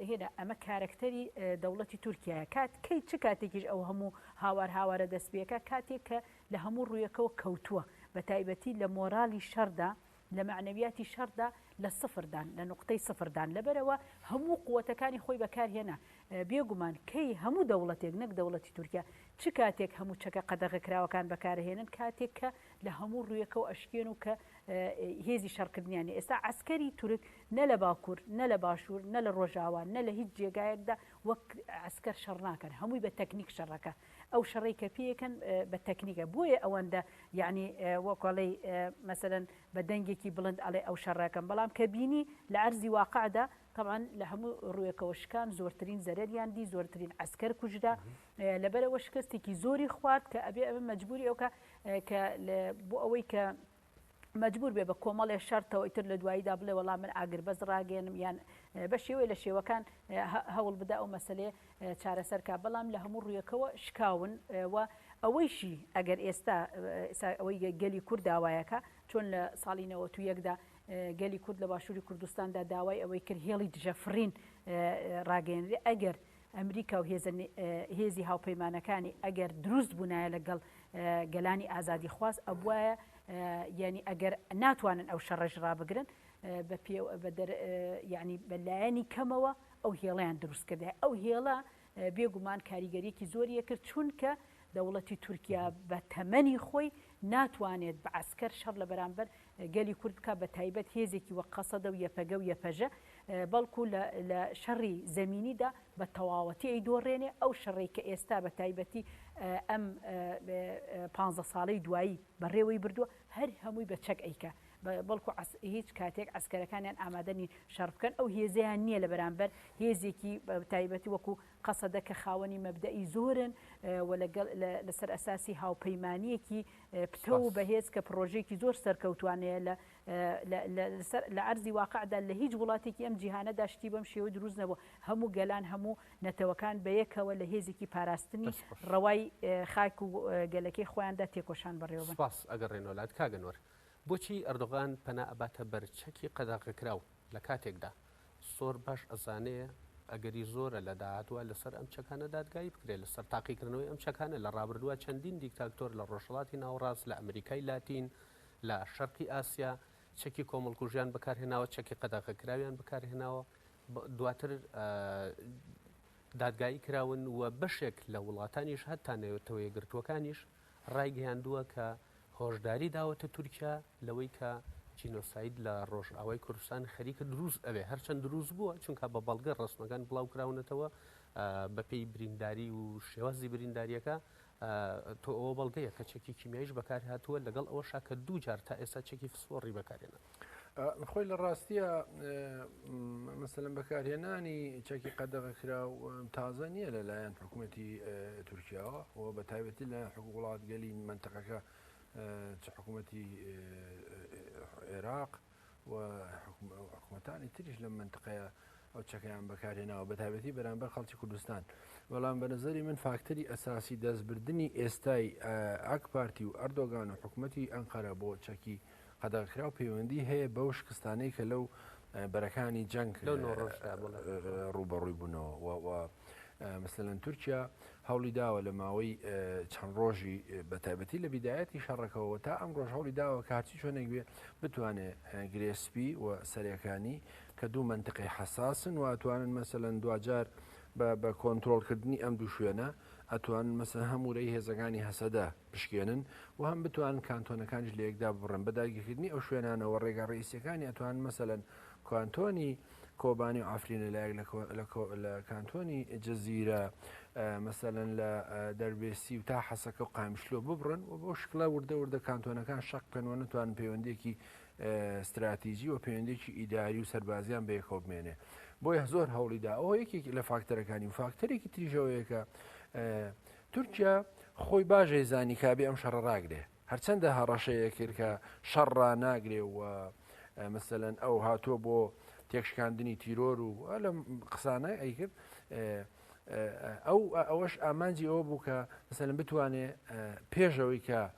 هێنا ئەمە کارەکتەری دەوڵەتی تورکیایە کات کەی چ کاتێکیش ئەو هەموو هاوار هاوارە دەستپێکە کاتێک کە لە هەموو ڕوویەکەوە کەوتووە بە تایبەتی لە مۆرالی شەردا لە معنەویاتی شەردا لە سفردان لە نقطەی سفردان لەبەرەوە هەموو قوتەکانی خۆی بەکارهێنا بێگومان کەی هەموو دەوڵەتێک نەک دەوڵەتی تورکیا چ کاتێک هەموو چەکە قەدەغەکراوەکان بەکارهێنن کاتێک کە لە هەموو ڕوویەکەەوە ئەشکێن و کە هێزی شەڕکردنیانی ئێستا ئەسکەری تورک نە لە باکور، نە لە باشور، نە لە ڕۆژاوا، نە لە هیچ جێگایەکدا وەک عەسکەر شەڕ ناکەن، هەمووی بە تەکنیک شەڕەکە، ئەو شەڕەی کە پێیەکەن بە تەکنیکە، بۆیە ئەوەندە یەعنی وەکو ئەڵێی مەسەلەن بە دەنگێکی بڵند ئەڵێ ئەو شەڕە ئەکەم، بەڵام کە بینی لە عەرزی واقعدا تەبعەن لە هەموو ڕووێکەوە شکان، زۆرترین زەرەریان دی، زۆرترین عەسکەر کوژرا، لەبەرئەوە شکستێکی زۆری خوارد کە ئەبێ ئەبێ مەجبوری ئەوکا کە بۆ ئەوەی کە. مەجبوور بێ بە کۆمەڵێ شەرتەوە ئیتر لە دواییدا بڵێ وەڵا من ئاگربەست ڕاگەیەنم یان بە شێوەی لە شێوەکان هەوڵ بدا ئەو مەسەلەیە چارەسەرکا بەڵام لە هەموو ڕوویەکەوە شکاون و ئەوەیشی ئەگەر ئێستا ئەوەی گەلی کورد داوایەکە چۆن لە ساڵی نەوەت و یەکدا گەلی کورد لە باشووری کوردستاندا داوای ئەوەی کرد هێڵی دژە فڕین ڕاگەیەنرێ ئەگەر ئەمریکا و هێزە هێزی هاوپەیمانەکانی ئەگەر دروست بونایە لە گەڵ گەلانی ئازادی خواز ئەبوایە یانی ئەگەر ناتوانن ئەو شەڕەش ڕابگرن بە پێ بە دەر یعنی بە لایەنی کەمەوە ئەو هێڵیان دروست کردە ئەو هێڵە بێگومان کاریگەریەکی زۆریە کرد چونکە دەوڵەتی تورکیا بە تەمەنی خۆی ناتوانێت بە عسکەر شەڕ لە بەرامبەر گەلی کورد بکات بە تایبەت هێزێکی وەک قەسەدە و یەپەگە و یەپەژە بەڵکو لە لە شەڕی زەمینیدا بە تەواوەتی ئەی دۆڕێنێ ئەو شەڕێک کە ئێستا بە تایبەتی ئەم پانزە ساڵەی دوایی بەڕێوەی بردووە هەر هەمووی بە چەک ئەیکە بەڵکو هیچ کاتێک ئەسکەرەکانیان ئامادەنی شەڕ بکەن ئەو هێزیان نییە لە بەرامبەر هێزێکی تایبەتی وەکو قەسەدە کە خاوەنی مەبدەئی زۆرن و لەسەر ئەساسی هاوپەیمانییەکی پتەو و بەهێز کە پڕۆژەیەکی زۆر سەرکەوتوانەیە لە عەرزی واقعدا لە هیچ وڵاتێکی ئەم جیهانەدا شتی بەم شێوە دروست نەبووە، هەموو گەلان هەموو نەتەوەکان بەیەکەوە لە هێزێکی پاراستنی ڕەوای خاک و گەلەکەی خۆیاندا تێکۆشان بەڕێوە بەن. سپاس، ئەگەڕێنەوە لات کاک ئەنوەر، بۆچی ئەردۆغان پەنا ئەباتە بەر چەکی قەدەغەکراو لە کاتێکدا زۆر باش ئەزانێ ئەگەری زۆرە لە داهاتووە لەسەر ئەم چەکانە دادگایی بکرێت، لەسەر تاقیکردنەوەی ئەم چەکانە لە ڕابردووە چەندین دیکتاکتۆر لە ڕۆژهەڵاتی ناوەڕاست، لە ئەمریکای لاتین، لە شەرقی ئاسیا چەکی کۆمەڵکوژیان بەکارهێناوە، چەکی قەدەغەکراویان بەکارهێناوە، دواتر دادگایی کراون و بەشێک لە وڵاتانیش هەتا نەتەوەیەکگرتووەکانیش ڕایگەیاندووە کە هۆشداری داوەتە تورکیا لەوەی کە جینۆساید لە ڕۆژئاوای کوردستان خەریکە دروست ئەبێت، هەرچەند دروست بووە، چونکە بە بەڵگە ڕەسمەکان بڵاو کراونەتەوە بەپێی برینداری و شێوازی بریندارییەکە تۆ ئەوە بەڵگەیە کە چەکی کیمیاییش بەکارهاتووە، لەگەڵ ئەوەشا کە دوو جار تا ئێستا چەکی فسفۆڕی بەکارهێناوە. خۆی لە ڕاستیە مەسەلەن بەکارهێنانی چەکی قەدەغە کرا و تازە نییە لەلایەن حکوومەتتی تورکیاوە و بە تایبەتی لە وڵاتگەلی منتەقەکە چ حکوومەتتی عێراق و حکوومەتانی تریش لە منتقەیە ئەو چەکەیان بەکارهێناوە بە تایبەتی بەرامبەر خەڵکی کوردستان بەڵام بە نظری من فاکتەری ئەساسی دەستبردننی ئێستای ئاک پارتی و ئەردۆگان و حکوومەتتی ئەنقەرە بۆ چەکی قەدەغەکراو پەیوەندی هەیە بەو شکستانەی کە لەو بەرەکانی جەنگ ڕوبەڕووی بوونەوە و مثلەن تورکیا هەوڵی داوە لە ماوەی چەند ڕۆژی بە تایبەتی لە بیدایەتی شەڕەکەەوە تا ئەم ڕۆژ هەوڵی داوە کارچی چۆنێک بێ بتوانێ گرێسپی و سەرەکانی کە دوو منتقی حساسن و ئەتوانن مەسەەن دوجار بە کۆنتترۆلکردنی ئەم دوو شوێنە ئەتوان مەسە هەمورەی هێزەکانی هەسەدە بشکێنن و هەم بتوانن کانتۆنەکانیش لە یەکدا ببڕن. بە داگیرکردنی ئەو شوێنانە و ڕێگا ڕەئیسییەکانی ئەتوانن مەسەلەن کانتۆنی کۆبانی و عەفرین لە لایەک لە لە کانتۆنی جزیرە مەسەلەن لە دەربێسی و تا حەسەکە و قایمشلۆ ببڕن و بەو شکڵە وردە وردە کانتۆنەکان شەق بکەن و نەتوانن پەیوەندیەکی ستراتیجی و پەیوەندێکی ئیداری و سەربازیان بەیەکەوە بمێنێ بۆیە زۆر هەوڵیدا ئەوە یەکێک لە فاکتەرەکانی و فاکتەرێکی تریژەوەیەکە تورکیا خۆی باش ێەیزانی کە ئەبێ ئەم شەڕە ڕاگرێ، هەرچەندە هەڕەشەیە کرد کە شەڕ ڕاناگرێ و مەسەلەن ئەو هاتووە بۆ تێکشکاندنی تیرۆر و لەم قسانە ئەیکرد ئەو ئەوەش ئامانجی ئەوە بوو کە مەسەلەن بتوانێ پێشەوەی کە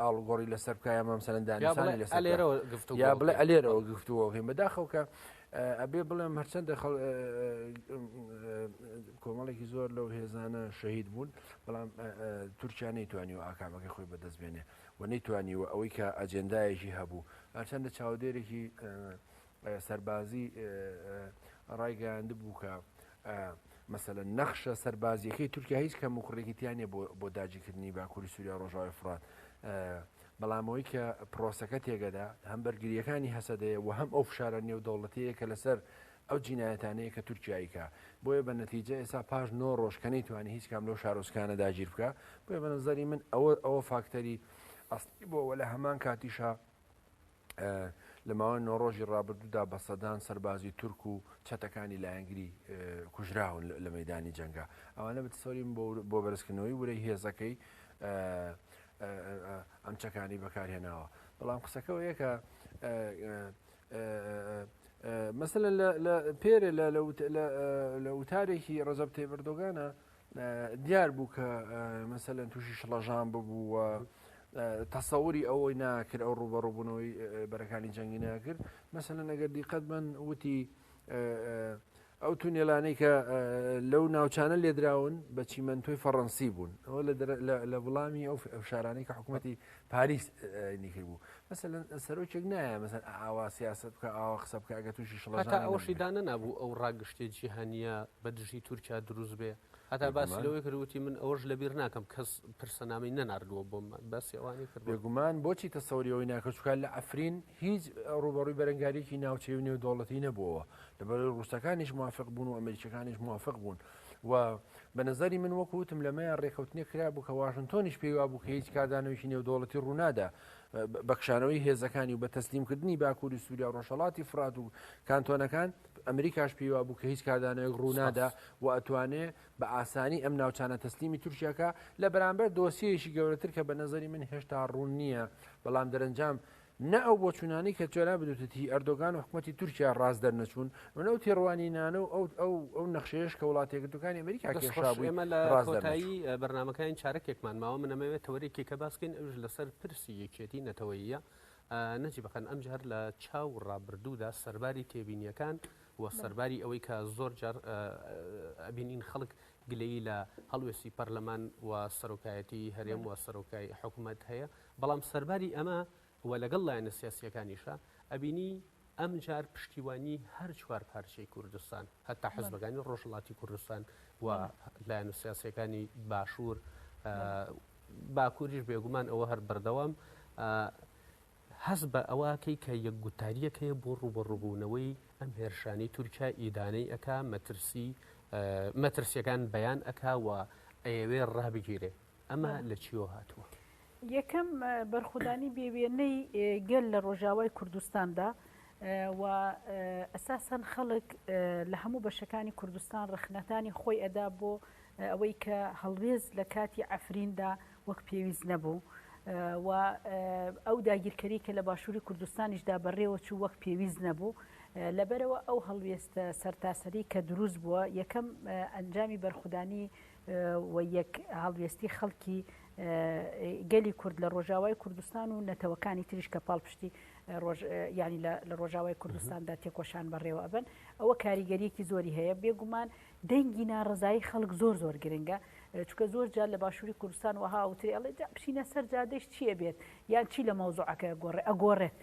ئاڵوگۆڕی لەسەر بکە یا مەمسەرەن دانیسانی لەسەر لێرەوە گفتو یا بڵێ ئەلێرەوە گفتووەکەین بەداخەوکە ئەبێ بڵێم هەرچەندە خەڵ کۆمەڵێکی زۆر لەو هێزانە شەهید بوون بەڵام تورکیا نەیتوانی و ئاکامەکەی خۆی بەدەست بێنێ و نەیتوانی و ئەوەی کە ئەجێندایەکی هەبوو هەرچەندە چاودێرێکی سەربازیی ڕایگەیاندبوو کە مەسەلەن نەخشە سەربازییەکەی تورکیا هیچ کەموکوڕییەکی تیا نییە بۆ داگیرکردنی باکووری سووریا و ڕۆژاوای فورات، بەڵام ئەوەی کە پرۆسەکە تێگەدا هەم بەرگرییەکانی هەسەدەیە و هەم ئەو فشارە نێودەوڵەتییەیە کە لەسەر ئەو جینایەتانەیە کە تورکیا ئەیکا، بۆیە بە نەتیجە ئێستا پاش نۆ ڕۆژ کە نەیتوانی هیچ کام لەو شارۆچکانە داگیر بکا، بۆیە بە نەزەری من ئەوە فاکتەری ئەسڵی بووە و لە هەمان کاتیشا، لە ماوەی نۆ ڕۆژی ڕابردوودا بە سەدان سەربازی تورک و چەتەکانی لایەنگری کوژراون لە مەدانی جەنگا ئەوانە بتسۆریم بۆ بەرزکردنەوەی ورەی هێزەکەی ئەم چەکانی بەکارهێناوە بەڵام قسەکەەوە یەکە مەسەن لە پێرە لە وتارێکی ڕزەب تێبردۆگانە دیار بوو کە مەسەلەن تووشی شڵەژان ببوو و تەسەوری ئەوەی ناکرد ئەو ڕوبەڕوبوونەوەی بەرەکانی جەنگی ناکرد مەسەلەن ئەگەر دیقەت بن وتی ئەو تونێلانەی کە لەو ناوچانە لێدراون بە چیمەندۆی فەڕەنسی بوون ئەوە لە وڵامی ئەو شارانەی کە حکوومەتتی پاریس نکرد بوو مەسە سەرۆکێک نایە مەسەر ئاوا سیاست بکە ئاوا قسە بکە ئەگە تووشی شڵەتا ئەوشی دانە نبوو ئەو ڕاگشتێ جیهانیە بە دژی تورکیا دروست بێ هەتا باسی لەوەی کردوتی من ئەوش لەبیر ناکەم کەس پرسەنامی نەناردووە بۆم بەس ئەوانی کرد بێگومان بۆچی تەسەوریەوەی ناکەچکار لە ئەفرین هیچ ڕوبەڕووی بەرەنگاریکی ناوچەی و نێودوڵەتی نەبووەوە لەبەر ڕووسەکانیش موافق بوون و ئەمریکەکانیش موافق بوون و بە نەزەری من وەکو وتم لەمەیان ڕێکەوتنێک کرا بوو کە واشنتۆنیش پێی وا بوو کە هیچ کاردانەوەیکی نێودەوڵەتی ڕوونادا بەکشانەوەی هێزەکانی و بە تەسلیمکردنی باکووری سووریا ڕۆژهڵاتی فرات و کانتۆنەکان ئەمریکاش پێی وا بوو کە هیچ کاردانەوەی ڕوونادا و ئەتوانێ بە ئاسانی ئەم ناوچانە تەسلیمی تورکیاکە لە بەرامبەر دۆسیەیەکی گەورەتر کە بە نەزەری من هێشتا ڕوون نییە بەڵام دەرەنجام نە ئەو بۆچوونانەی کە تۆ نابدوتت هی ئەردۆگان و حکومەتی تورکیا ڕاست دەرنەچوون و نە ئەو تێڕوانینانە و ئەو ئەو ئەو نەخشەیەش کە وڵاتە یەکگرتووەکانی ئەمریکا دەست خۆش کێشابووی ئێمە لە ڕاست کۆتایی دەرنەچوو. بەرنامەکانی چارەکێکمان ماوە من ئەمەوێت تەوەرێکێکە باس بکەین ئەوش لەسەر پرسی یەکێتی نەتەوەییە ئا، نەجی بەقەن ئەمجار لە چاو ڕابردوودا سەرباری تێبینیەکان و بەڵێ سەرباری ئەوەی کە زۆر جار ئا ئەبینین خەڵک گلەیی لە هەڵوێستی پەرلەمان و سەرۆکایەتی هەرێم بەڵێ و سەرۆکای حکومەت هەیە، بەڵام سەرباری ئەمە و لەگەڵ لایەنە سیاسییەکانیشا، ئەبینی ئەمجار پشتیوانی هەر چوار پارچەی کوردستان، هەتا حزبەکانی ڕۆژهەڵاتی کوردستان و لایەنە سیاسییەکانی باشوور، باکووریش بێگومان ئەوە هەر بەردەوام هەست بە ئەوە ئەکەی کە یەک گوتارییەک هەیە بۆ ڕووبەڕووبوونەوەی ئەم هێرشانەی تورکیا ئیدانەی ئەکا، مەترسی مەترسییەکان بەیان ئەکا و ئەیەوێ ڕابگیرێ. ئەمە لە چیەوە هاتووە؟ یەکەم بەرخودانی بێ وێنەی گەل لە ڕۆژاوای کوردستاندا و ئەساسەن خەڵک لە هەموو بەشەکانی کوردستان ڕخنەکانی خۆی ئەدا بۆ ئەوەی کە هەڵوێز لە کاتی ئەفریندا وەک پێویست نەبوو و ئەو داگیرکەری کە لە باشووری کوردستانیشدا بەڕێوە چوو وەک پێویست نەبوو لەبەرەوە ئەو هەڵوێستە سەرتاسەری کە دروست بووە یەکەم ئەنجامی بەرخودانی و یەک هەڵوێستی خەڵکی گەلی کورد لە ڕۆژاوای کوردستان و نەتەوەکانی تریش کە پاڵپشتی ینی لە ڕۆژاوای کوردستاندا تێکۆشان بەڕێوە ئەبن ئەوە کاریگەریەکی زۆری هەیە بێگومان دەنگی ناڕزایی خەڵک زۆر زۆر گرنگە چکە زۆر جار لە باشووری کوردستان وەها وتری ئەڵێ بچینە سەر جادەش چییە بێت یان چی لە مەوزوعەکە گۆڕێ ئەگۆڕێت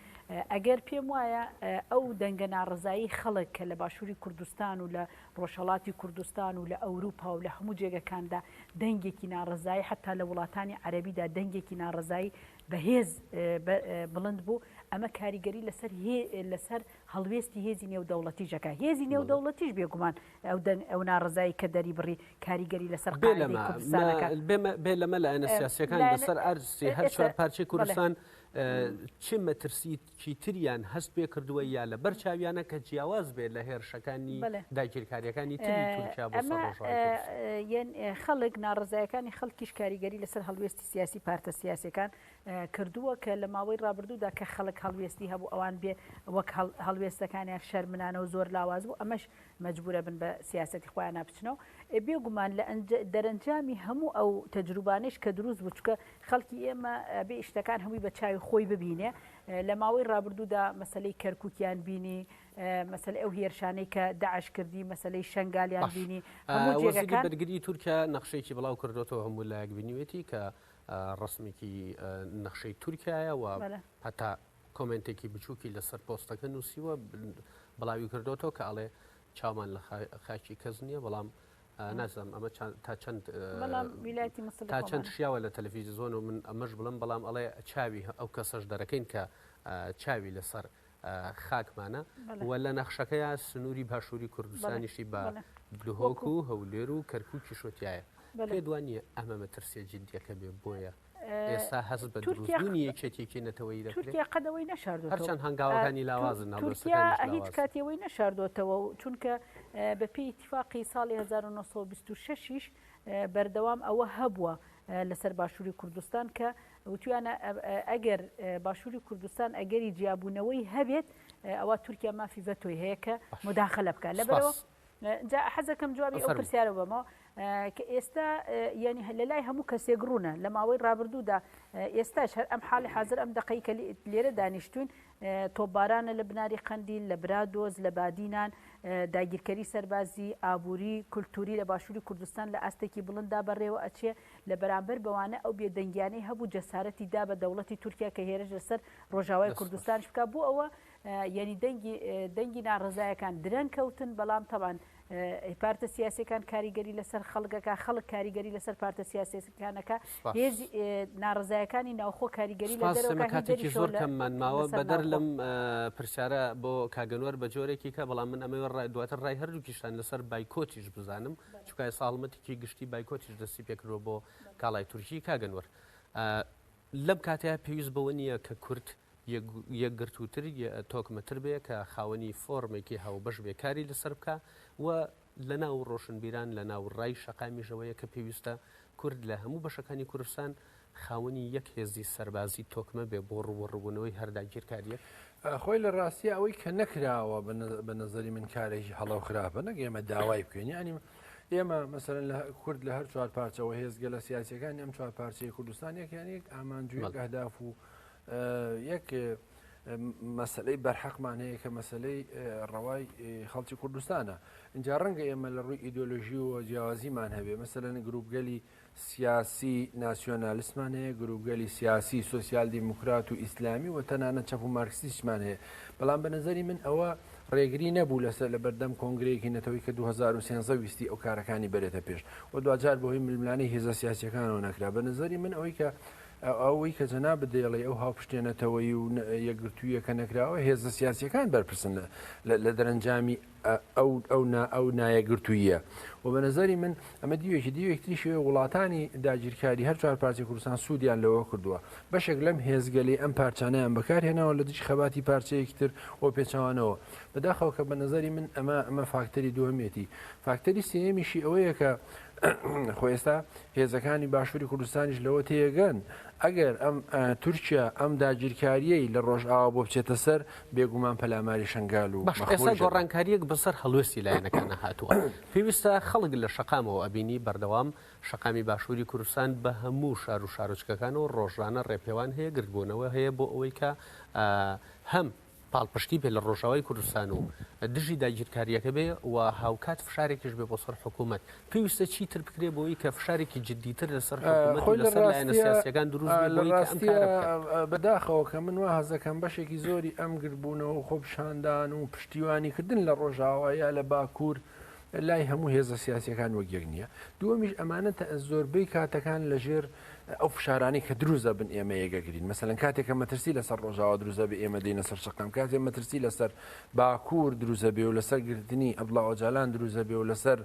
ئەگەر پێم وایە ئەو دەنگە ناڕزایی خەڵک کە لە باشووری کوردستان و لە ڕۆژهەڵاتی کوردستان و لە ئەوروپا و لە هەموو جێگەکاندا دەنگێکی ناڕەزایی حەتا لە وڵاتانی عەرەبیدا دەنگێکی ناڕەزایی بەهێز بڵند بوو ئەمە کاریگەری لەسەر لەسەر هەڵوێستی هێزی نێودەوڵەتیشەکە هێزی نێودەوڵەتیش بێگومان ئەو دەنگ ئەو ناڕەزایی کە دەری بڕی کاریگەری لەسەر بێ لەمە لایەنە سیاسەکان لەسەر ئەرزی هەر چوار پارچەی کوردستان چی مەترسی چیتریان هەست پێ کردووە یا لە بەر چاویانە کە جیاواز بێ لە هێرشەکانی داگیرکاریەکانی تری تورکیا بۆ سەر ڕۆژاوای کوردستان؟ خەڵک، ناڕەزایەکانی خەڵکیش کاریگەری لەسەر هەڵوێستی سیاسی پارتە سیاسیەکان کردووە کە لە ماوەی ڕابردوودا کە خەڵک هەڵوێستی هەبوو ئەوان بێ وەک هەڵوێستەکانیان شەرمنانە و زۆر لاواز بوو ئەمەش مەجبورەبن بە سیاسەتی خۆیانا بچنەوە ئێ بێ گومان لە ئەنج دەرەنجامی هەموو ئەو تەجروبانەیش کە دروست بوو چونکە خەڵکی ئێمە ئەبێ ئیشتەکان هەمووی بە چاوی خۆی ببینێ لە ماوەی ڕابردوودا مەسەلەی کەرکوکیان بینی مەسەلەی ئەو هێرشانەی کە داعش کردی مەسەلەی شەنگالیان بینی هەموو وەزیری جێگەکان بەرگری تورکیا نەخشەیەکی بڵاو کردۆتەوە هەموو لایەک بینیوێتی کە ڕەسمێکی نەخشەی تورکایە و بەلە هەتا کۆمێنتێکی بچووکی لەسەر پۆستەکە نووسیوە بڵاوی کردوەوە کە ئەڵێ چاومان لە خاکی کەس نییە بەڵام نازم ئەمە تا چەند تا چەند شیاوە لە تەلەفیزیۆن و من ئەمەش بڵم بەڵام ئەڵێ چاوی ئەو کەسەش دەرەکەین کە چاوی لەسەر خاکمانە و لە نەخشەکەیە سنووری باشووری کوردستانیشی بە دهۆک و هەولێر و کەرکووکی شوتایە پێ دوان نیە ئەمە مەترسێ جددیەکە بێ بۆیە ئێستا هەست بە دروستبوونی یەکێتیەکی نەتەوەی دەکرێت تورکیا قەد ئەوەی نەشاردووە هەرچەند هەنگاوەکانی لاوازن هەڵبەت تورکیا سەکانیش هیچ لاوازن. کاتی ئەوەی نەشاردووەتەوە و چونکە اه، بەپێی ئیتیفاقی ساڵی 1926 یش اه، بەردەوام ئەوە هەبووە اه، لەسەر باشووری کوردستان کە وتویانە اه، ئەگەر اه، باشووری کوردستان ئەگەری جیابوونەوەی هەبێت اه، ئەوا تورکیا مافی ڤەتۆی هەیە کە باشە. موداخەلە بکات لە بەرەوە سوپاس جا حەزەکەم جوابی ئەو پرسیارە بەمەوە کە ئێستا یعنی لە لای هەموو کەسێک ڕوونە لە ماوەی ڕابردوودا ئێستاش هەر ئەم حاڵی حاضر ئەم دقەی کە لێرە دانیشتوین تۆبارانە لە بناری قەندیل لە برادۆز لە بادینان داگیرکەری سەربازی ئابووری کولتوری لە باشووری کوردستان لە ئاستێکی بڵندا بەڕێوە ئەچێ لە بەرامبەر بەوانە ئەو بێدەنگیانەی هەبوو جەسارەتی دا بە دەوڵەتی تورکیا کە هێرش لەسەر ڕۆژاوای کوردستانش بکە بۆ ئەوە یەنی دەنگی دەنگی ناڕەزایەکان درەنگ کەوتن بەڵام تەوان پارتە سیاسەکان کاریگەری لەسەر خەڵگەکە خەڵک کاریگەری لەسەر پارتە سیاسەکانەکە هێز ناڕزایەکانی ناوخۆ کاریگەری لەسەرکاتێکی زۆر کەممان ماوە بەدەر لەم پرسیارە بۆ کاگەنوەر بە جۆرێکی کە بەڵام من ئەمە ڕای دواتر ڕای هەردووکیشتان لەسەر بایکۆتیش بزانم چکای ساڵمەتێکی گشتی بایکۆتیش دەستی پێکرۆ بۆ کاڵای تورکی کاگەنوەر لەم کاتەیە پێویست بەوە نییە کە کورت یەکگرتووتر، تۆکمەتر بێ، کە خاوەنی فۆرمێکی هاوبەش بێ کاری لەسەر بکا و لە ناو ڕۆشنبیران لە ناو ڕای شەقامیشەوەیە کە پێویستە کورد لە هەموو بەشەکانی کوردستان خاوەنی یەک هێزی سەربازی تۆکمە بێ بۆ ڕووبەڕووبوونەوەی هەر داگیرکارییەک. خۆی لە ڕاستیا ئەوەی کە نەکراوە بە نەزەری من کارێکی هەڵە و خراپە، نەک ئێمە داوای بکەین یانی ئێمە مەسەلەن لە کورد لە هەر چوار پارچەوە هێزگەلە سیاسیەکانی ئەم چوار پارچەی کوردستان یەکیان یەک ئامانجویەک ئەهداف و یەک مەسەلەی بەرحەقمان هەیە کە مەسلەی ڕەوای خەڵکی کوردستانە اینجا ڕەنگە ئێمە لە ڕووی ئیدۆلۆژی و جیاوازیمان هەبێ مەسەلەن گروپگەلی سیاسی ناسیۆنالیسمان هەیە گروپگەلی سیاسی سوسیال دیموکرات و ئیسلامی و تەنانە چەپ و مارکسیسمان هەیە بەڵام بە نظری من ئەوە ڕێگری نەبوو لەسەر لە بەردەم کۆنگرەیەکی نەتەوەی کە 2013 ویستی ئەو کارەکانی بەرێتە پێش و دوجار بەهۆی ململانی هێزە سیاسەکانەوە نەکرا بە نظری من ئەوەی کە ئەوەی کە جەنابت دەیڵێی ئەو هاوپشتیە نەتەوەیی و یەکگرتوویە کە نەکراوە هێزە سیاسیەکان بەرپرسن لە دەرەنجامی ئەو نایەکگرتووییە و بە نەزەری من ئەمە دیوێکی دیوێک تریشی وڵاتانی داگیرکاری هەر چوار پارچەی کوردستان سوودیان لەوە کردووە بەشێک لەم هێزگەلی ئەم پارچانیان بەکارهێناوە لە دژی خەباتی پارچەیەکی تر و پێچوانەوە بەداخەوە کە بە نەزەری من ئەمە ئەمە فاکتەری دووەمێتی فاکتەری سێمیشی ئەوەیە کە خۆ ئێستا هێزەکانی باشووری کوردستانیش لەوە تێگەن ئەگەر ئەم تورکیا ئەم داگیرکاریەی لە ڕۆژئاوا بۆ بچێتە سەر بێگومان پەلاماری شنگال و ئێستا گۆڕانکاریەک بەسەر هەڵوێستی لایەنەکانە هاتووە پێویستە خەڵک لە شەقامەوە ئەبینی بەردەوام شەقامی باشووری کوردستان بە هەموو شار و شارۆچکەکان و ڕۆژانە ڕێپێوان هەیە گردبوونەوە هەیە بۆ ئەوەی کە هەم پاڵپشتی بێ لە ڕۆژاوای کوردستان و دژی داگیرکاریەکە بێ و هاوکات فشارێکیش بێ بۆ سەر حکوومەت، پێویستە چی تر بکرێ بۆی کە فشارێکی جددی تر لە سەر حکوومەت و لە سەر لایەنە سیاسیەکان دروست بێ بۆی کە ئەم کارە بکەن. بە داخەوە کە من وا هەست دەکەم بەشێکی زۆری ئەم گردبوونەوە و خۆپیشاندان و پشتیوانی کردن لە ڕۆژاوا یا لە باکوور، لای هەموو هێزە سیاسیەکان وەک یەک نییە دووەمیش ئەمانە زۆربەی کاتەکان لە ژێر ئەو فشارانی کە دروزە بن ئێمە یەگەگرین مەسەن کاتێکە مەترسی لەسەر ڕۆژاوا دروزە بە ئێمە دینە سەر شقام کاتێ مەترسی لەسەر باکوور دروزە بێ و لەسەر گرتنی ئەبلا ئۆجالان دروزە بێ و لەسەر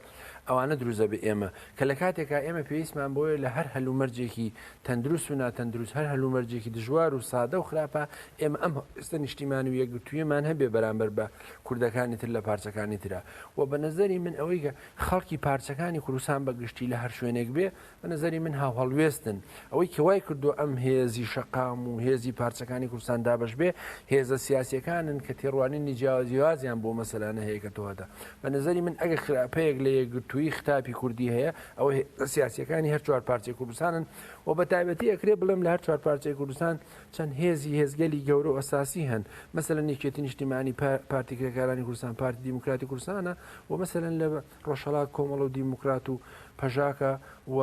ئەوانە دروزە بە ئێمە کە لە کاتێکا ئێمە پێویستمان بۆیە لە هەر هەلومەرجێکی تەندروست و ناتەندروست هەر هەلومەرجێکی دژوار و سادە و خراپە ئێمە ئەم ئێستا نیشتیمان و یەکگرتوویمان هەبێ بەرامبەر بە کوردەکانی تر لە پارچەکانی ترە و بە نەزەری من ئەوەی کە خەڵکی پارچەکانی کوردستان بە گشتی لە هەر شوێنێک بێ بە نەزەری من هاوهڵوێستن ئەوەی کەوای کردو ئەم هێزی شەقام و هێزی پارچەکانی کوردستان دابش بێ هێزە سیاسەکانن کە تێڕوانینی جیاوازیوازیان بۆ مەسەلانە هەیە کە تۆهدا بە نەزەری من ئەگە خراپەیەک لە یەکگرتووی خراپی کوردی هەیە ئەوە سیاسەکانی هەر چوار پارچەی کوردستانن و بە تایبەتی ئەکرێ بڵێم لە هەر چوار پارچەی کوردستان چەند هێزی هێزگەلی گەورە و ئەساسی هەن، مەسەلەن یەکێتی نیشتیمانی، پارتی کرێکارانی کوردستان، پارتی دیموکراتی کوردستانە و مەسەلەن لە ڕۆژهەڵات کۆمەڵە و دیموکرات و پەژاکە و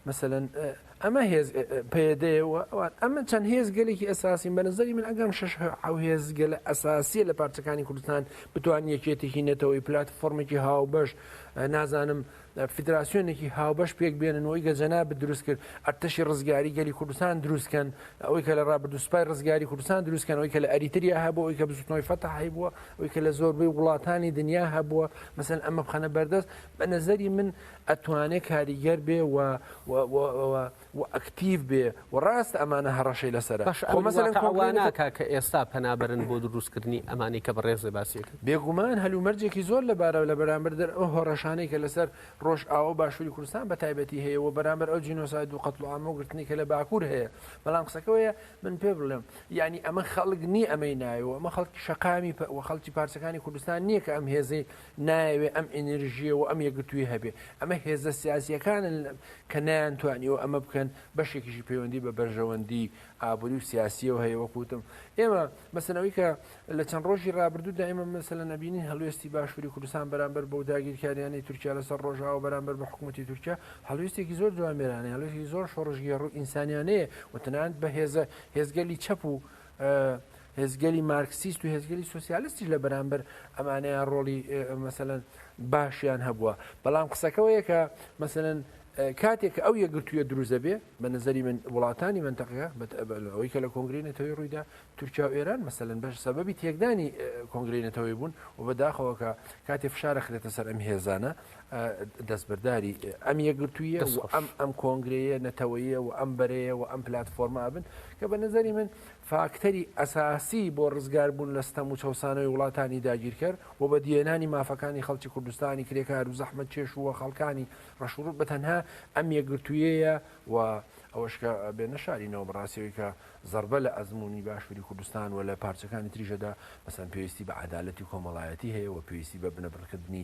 مەسەلەن ئەمە هێز پەیەدەیە و ئەوان ئەمە چەند هێزگەلێکی ئەساسین بە نظری من ئەگەم شش ئەو هێزگەلە ئەساسیە لە پارچەکانی کوردستان بتوان یەکێتێکی نەتەوەی پلات فۆرمێکی هاوبەش نازانم فیدراسیۆنێکی هاوبەش پێک بێنن و ئەوی کە جەنابت دروست کرد ئەرتەشی ڕزگاری گەلی کوردستان دروست کەن ئەوەی کە لە ڕابردوو سوپای ڕزگاری کوردستان دروست کەن ئەوەی کە لە ئەریتریا هەبوو ئەوەی کە بزوتنەوەی فەتح هەبووە ئەوەی کە لە زۆربەی وڵاتانی دنیا هەبووە مەسەن ئەمە بخەنە بەردەست بە نەزەری من ئەتوانێ کاریگەر بێ و و ئەکتیڤ بێ و ڕاستە ئەمانە هەڕەشەی لەسەرە باشە خۆ ئەمیر مەسەلەن واقع وا کۆنکرێت ناکا کە ئێستا پەنا بەرن بۆ دروست کردنی ئەمانەی کە بەڕێزێ باسی ئەکەن؟ بێگومان هەلومەرجێکی زۆر لەبارە لە بەرامبەر دەر ئەو هەڕەشانەی کە لەسەر ڕۆژئاوا و باشووری کوردستان بە تایبەتی هەیە و بەرامبەر ئەو جینۆساید و قەتڵوعام و گرتنەی کە لە باکوور هەیە بەڵام قسەکە وەیە من پێ بڵێم یانی ئەمە خەڵک نیە ئەمەی ناوێ و ئەمە خەڵکی شەقامی پە و خەڵکی پارچەکانی کوردستان نیە کە ئەم هێزەی نایەوێ ئەم ئینرژیە و ئەم یەکگرتوویە هەبێ، ئەمە هێزە سیاسییەکانن کە نەیانتوانیوە ئەمە بکەن، بەشێکیشی پەیوەندی بە بەرژەوەندی ئابووری و سیاسییەوە هەیە، وەکو وتم ئێمە مەسەلەن ئەوەی کە لە چەند ڕۆژی ڕابردوودا ئێمە مەسەلەن ئەبینین هەڵوێستی باشووری کوردستان بەرامبەر بەو داگیرکارییانەی تورکیا لەسەر ڕۆژئاوا بەرامبەر بە حکوومەتی تورکیا هەڵوێستێکی زۆر جوامێرانەیە، هەڵوێستێکی زۆر شۆڕشگێڕ و ئینسانیانەیە و تەنانەت بە هێزە هێزگەلی چەپ و هێزگەلی مارکسیست و هێزگەلی سوسیالستیش لە بەرامبەر ئەمانەیان ڕۆڵی مەسەەن باشیان هەبووە بەڵام قسەکەەوە یەکە مەسەن کاتێک ئەو یەگرتوویە دروزە بێ بە نظری من وڵاتانی منتەقەیە ئەوەی کە لە کۆنگری نەتەوەی ڕوویدا تورکیا و ئێران مەسەن بەش سەبەبی تێکدانی کۆنگری نەتەوەی بوون و بەداخەوەکە کاتێ فشارە خرێتە سەر ئەم هێزانە دەستبەرداری ئەم یەکگرتوویە و ئەم ئەم کۆنگرەیە نەتەوەیە و ئەم بەرەیە و ئەم پلتفۆرمە ئەبن کە بە نظری من فاکتەری ئەساسی بۆ ڕزگار بوون لە ستەم و چەسانەوەی وڵاتانی داگیرکەر و بە دیێنانی مافەکانی خەڵکی کوردستانی کرێکار و زەحمە چێش وە خەڵکانی ڕەشوڕوت بە تەنها ئەم یەکگرتوویەیە و ئەوەشکە بێ نەشارینەوە بەڕاستەوەی کە زربە لە ئەزمموی باشووری کوردستان و لە پارچەکانی تریژەدا مەسەن پێویستی بە عدالەتی کۆمەڵایەتی هەیە و پێویستی بە بنەبڕکردنی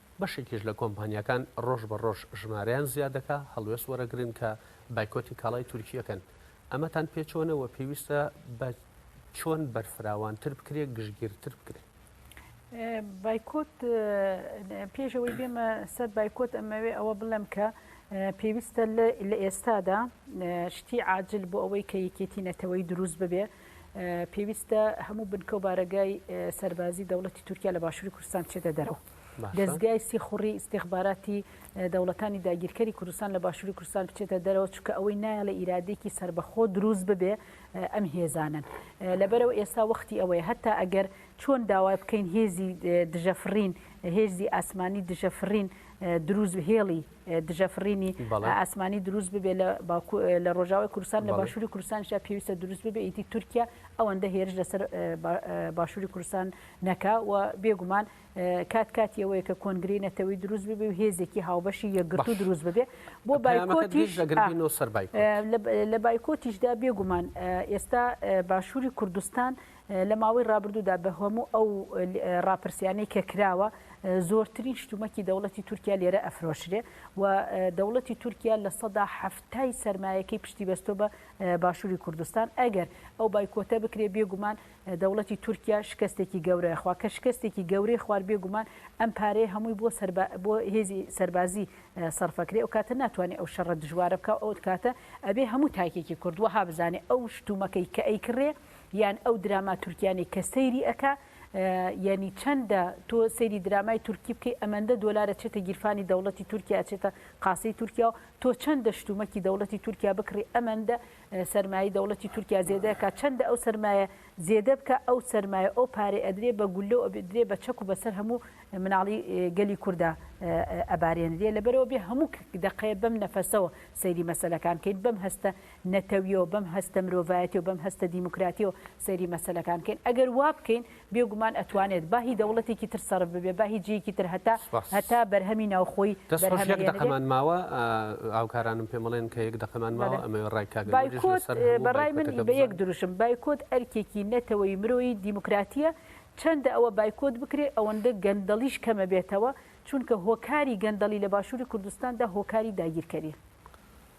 بەشێکیش لە کۆمپانیاکان ڕۆژ بە ڕۆژ ژمارەیان زیاد دەکا، هەڵوێست وەرەگرن کە بایکۆتی کاڵای تورکییە کەن. ئەمەتان پێ چۆنە و پێویستە بە چۆن بەرفراوانتر بکرێ، گشتگیرتر بکرێ؟ بایکۆت، پێش ئەوەی بێمە سەر بایکۆت ئەمەوێ ئەوە بڵێم کە پێویستە لە ئێستادا شتی عاجل بۆ ئەوەی کە یەکێتی نەتەوەیی دروست ببێ، پێویستە هەموو بنکە و بارەگای سەربازی دەوڵەتی تورکیا لە باشووری کوردستان چێتە دەرەوە. دەزگای سیخوڕی ئیستیخباراتی دەوڵەتانی داگیرکەری کوردستان لە باشووری کوردستان بچێتە دەرەوە چونکە ئەوەی نایەڵە ئیرادێکی سربەخۆ دروست ببێ ئەم هێزانن لەبەرەوە ئێستا وەختی ئەوەیە هەتا ئەگەر چۆن داوای بکەین هێزی دژەفرین هێزی ئاسمانی دژەفرین دروست و هێڵی دژەفرینی ئاسمانی دروست ببێ لە لە ڕۆژاوی کوردستان لە باشووری کوردستانشا پێویستە دروست ببێ ئیتی تورکیا ئەوەندە هێرش لەسەر باشووری کوردستان نەکا و بێگومان کات کاتی ئەوەیە کە کۆنگرەی نەتەوەی دروست ببێ و هێزێکی هاوبەشی یەکگرتوو دروست ببێ بۆ بایکۆتیش لە بایکۆتیشدا بێگومان ئێستا باشووری کوردستان لە ماوەی ڕابردوودا بە هەموو ئەو ڕاپرسیانەی کە کراوە زۆرترین شتومەکی دەوڵەتی تورکیا لێرە ئەفرۆشرێ و دەوڵەتی تورکیا لە سەدا حەفتای سەرمایەکەی پشتی بەستۆ بە باشووری کوردستان ئەگەر ئەو بایکۆتە بکرێ بێگومان دەوڵەتی تورکیا شکەستێکی گەورە خوا کە شکەستێکی گەورەی خوار بێ گومان ئەم پارەیە هەمووی بۆ سەربا بۆ هێزی سەربازی سەرفەکرێ ئەو کاتە ناتوانێ ئەو شەڕە دژوارە بکا ئەو کاتە ئەبێ هەموو تاکێکی کورد وەها بزانێ ئەو شتومەکەی کە ئەی کڕێ یان ئەو دراما تورکیانی کە سەیری ئەکا یعنی چەندە تۆ سەیری درامای تورکی بکەی ئەمەندە دۆلارە چێتە گیرفانی دەوڵەتی تورکیا چێتە قاسەی تورکیا و تۆ چەندە شتومەکی دەوڵەتی تورکیا بکڕی ئەمەندە سەرمایەی دەوڵەتی تورکیا زێدەکا چەندە ئەو سەرمایە زێدە بکە ئەو سەرمایە ئەو پارەی ئەدرێ بە گوللە و ئەبدرێ بە چەک و بەسەر هەموو مناڵی گەلی کوردا ئەبارێنرێ لەبەرەوە بێ هەموو دەقەیە بەم نەفەسەوە سەیری مەسەلەکان کەین بەم هەستە نەتەویەوە بەم هەستە مرۆڤایەتیەوە بەم هەستە دیموکراتیەوە سەیری مەسەلەکان کەین ئەگەر وا بکەین بێگومان ئەتوانێت با هی دەوڵەتێکی تر سەرف ببێ با هی جێیەکی تر هەتا هەتا بەرهەمی ناوخۆی دەست خۆش یەک دەقەمان ماوە هاوکارانم پێم بڵێن کە یەک دەقەمان ماوە ئەمە ڕای کاک بایکۆت بە ڕای من بە یەک دروشم بایکۆت ئەرکێکی نەتەوەی مرۆیی دیموکراتیە چەندە ئەوە بایکۆت بکرێ ئەوەندە گەندەڵیش کەمە بێتەوە چونکە هۆکاری گەندەڵی لە باشوری کوردستاندا هۆکاری داگیرکەریە.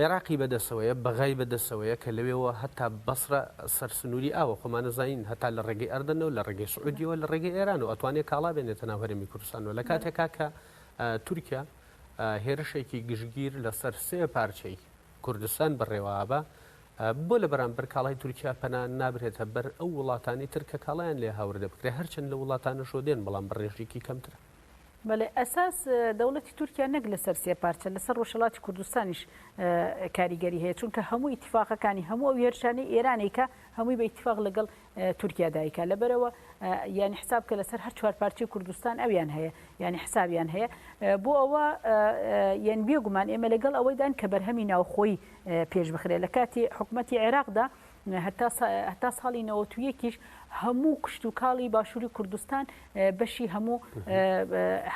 عێراقی بەدەسەوەیە، بەغای بەدەسەوەیە کە لەوێوە هەتا بەسرە سەر سنووری ئاوە، خۆمانە زانین هەتا لە ڕێگەی ئەردەنەوە، لە ڕێگەی سعودیەوە، لە ڕێگەی ئێرانەوە ئەتوانێ کاڵا بێنێتە ناو هەرێمی کوردستانەوە، لە کاتێکا کە تورکیا هێرشێکی گشتگیر لەسەر سێ پارچەی کوردستان بەڕێوابا، بۆ لە بەرامبەر کاڵای تورکیا پەنا نابرێتە بەر ئەو وڵاتانی تر کە کاڵایان لێ هاوردە بکرێ، هەرچەند لەو وڵاتانەشەوە دێن بەڵام بە ڕێژەیەکی کەمترە. بەڵێ ئەساس دەوڵەتی تورکیا نەک لەسەر سێ پارچە لەسەر ڕۆژهەڵاتی کوردستانیش کاریگەری هەیە چونکە هەموو ئیتفاقەکانی هەموو ئەو هێرشانەی ئێرانێکە هەمووی بە ئیتفاق لەگەڵ تورکیا دایکە لەبەرەوە یعنی حساب کە لەسەر هەر چوار پارچی کوردستان ئەویان هەیە یعنی حسابیان هەیە بۆ ئەوە یەن بێگومان ئێمە لەگەڵ ئەوەیدان کە بەرهەمی ناوخۆی پێش بخرێت لە کاتی حکوومەتتی عێراقدا هەتا ساڵی نەوەت و یەکیش هەموو کشت و کاڵی باشووری کوردستان بەشی هەموو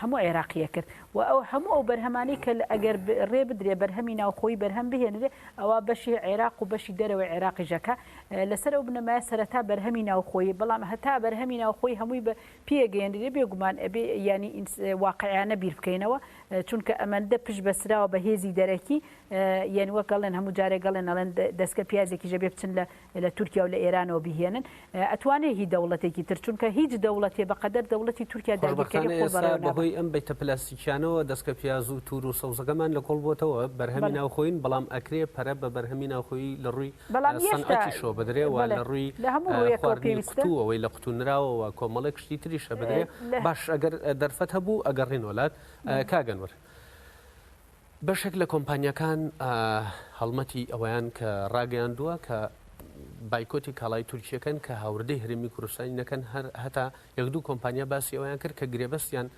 هەموو عێراقیە کرد و ئەو هەموو ئەو بەرهەمانی کە ئەگەر ڕێ بدرێ بەرهەمی ناوخۆی بەرهەم بهێنرێ ئەوە بەشی عێراق و بەشی دەرەوەی عێراقیژەکە لەسەر ئەو بنەمای سەرەتا بەرهەمی ناوخۆی بەڵام هەتا بەرهەمی ناوخۆی هەمووی بە پێگەێنرێ بێگومان ئەبێ ینی واقعیانە بیر بکەینەوە چونکە ئەمەندە پشت بەسراوە بە هێزی دەرەکی یەن وەک ئەڵێن هەموو جارێک ئەڵێن ئەڵێن دەسکە پیازێکی ژەبێ بچن لە لە تورکیا و لە ئێرانەوە بیهێنن ئەتوانێ هی دەوڵەتێکی تر چونکە هیچ دەوڵەتێ بە قەدەر دەوڵەتی تورکیا داگیرکەری خۆ بەڕێوە نابات. بەهۆی ئەم بەیتە پلاستیکیانەوە دەسکە پیاز و توور و سەوزەکەمان لە کۆڵ بۆتەوە بەرهەمی ناوخۆیین بەڵام ئەکرێ پەرە بە بەرهەمی ناوخۆیی لە ڕووی سەنعەتیشەوە بدرێ و لە ڕووی خواردنی قوتوو ئەوەی لە قوتوو نراوەوە کۆمەڵێک شتی تریشە بدرێ باش ئەگەر دەرفەت هەبوو ئەگەڕێین وەلات کاک ئەنوەر. بەشێک لە کۆمپانیاکان هەڵمەتی ئەوەیان کە ڕاگەیاندووە کە بایکۆتی کاڵای تورکیەکەن کە هاوردەی هەرمی کوردستانی نەکەن هەر هەتا یەک دوو کۆمپانیا باسی ئەویان کرد کە گرێبەستیان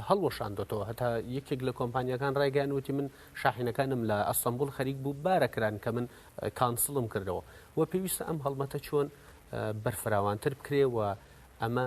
هەڵوەشاندۆتەوە هەتا یەکێک لە کۆمپانیەکان ڕایگەیان وتی من شاحینەکانم لە ئەستەمبول خەریک بوو بارەکران کە من کانسڵم کردەوە و پێویستە ئەم هەڵمەتە چۆن بەرفراوانتر بکرێ و ئەمە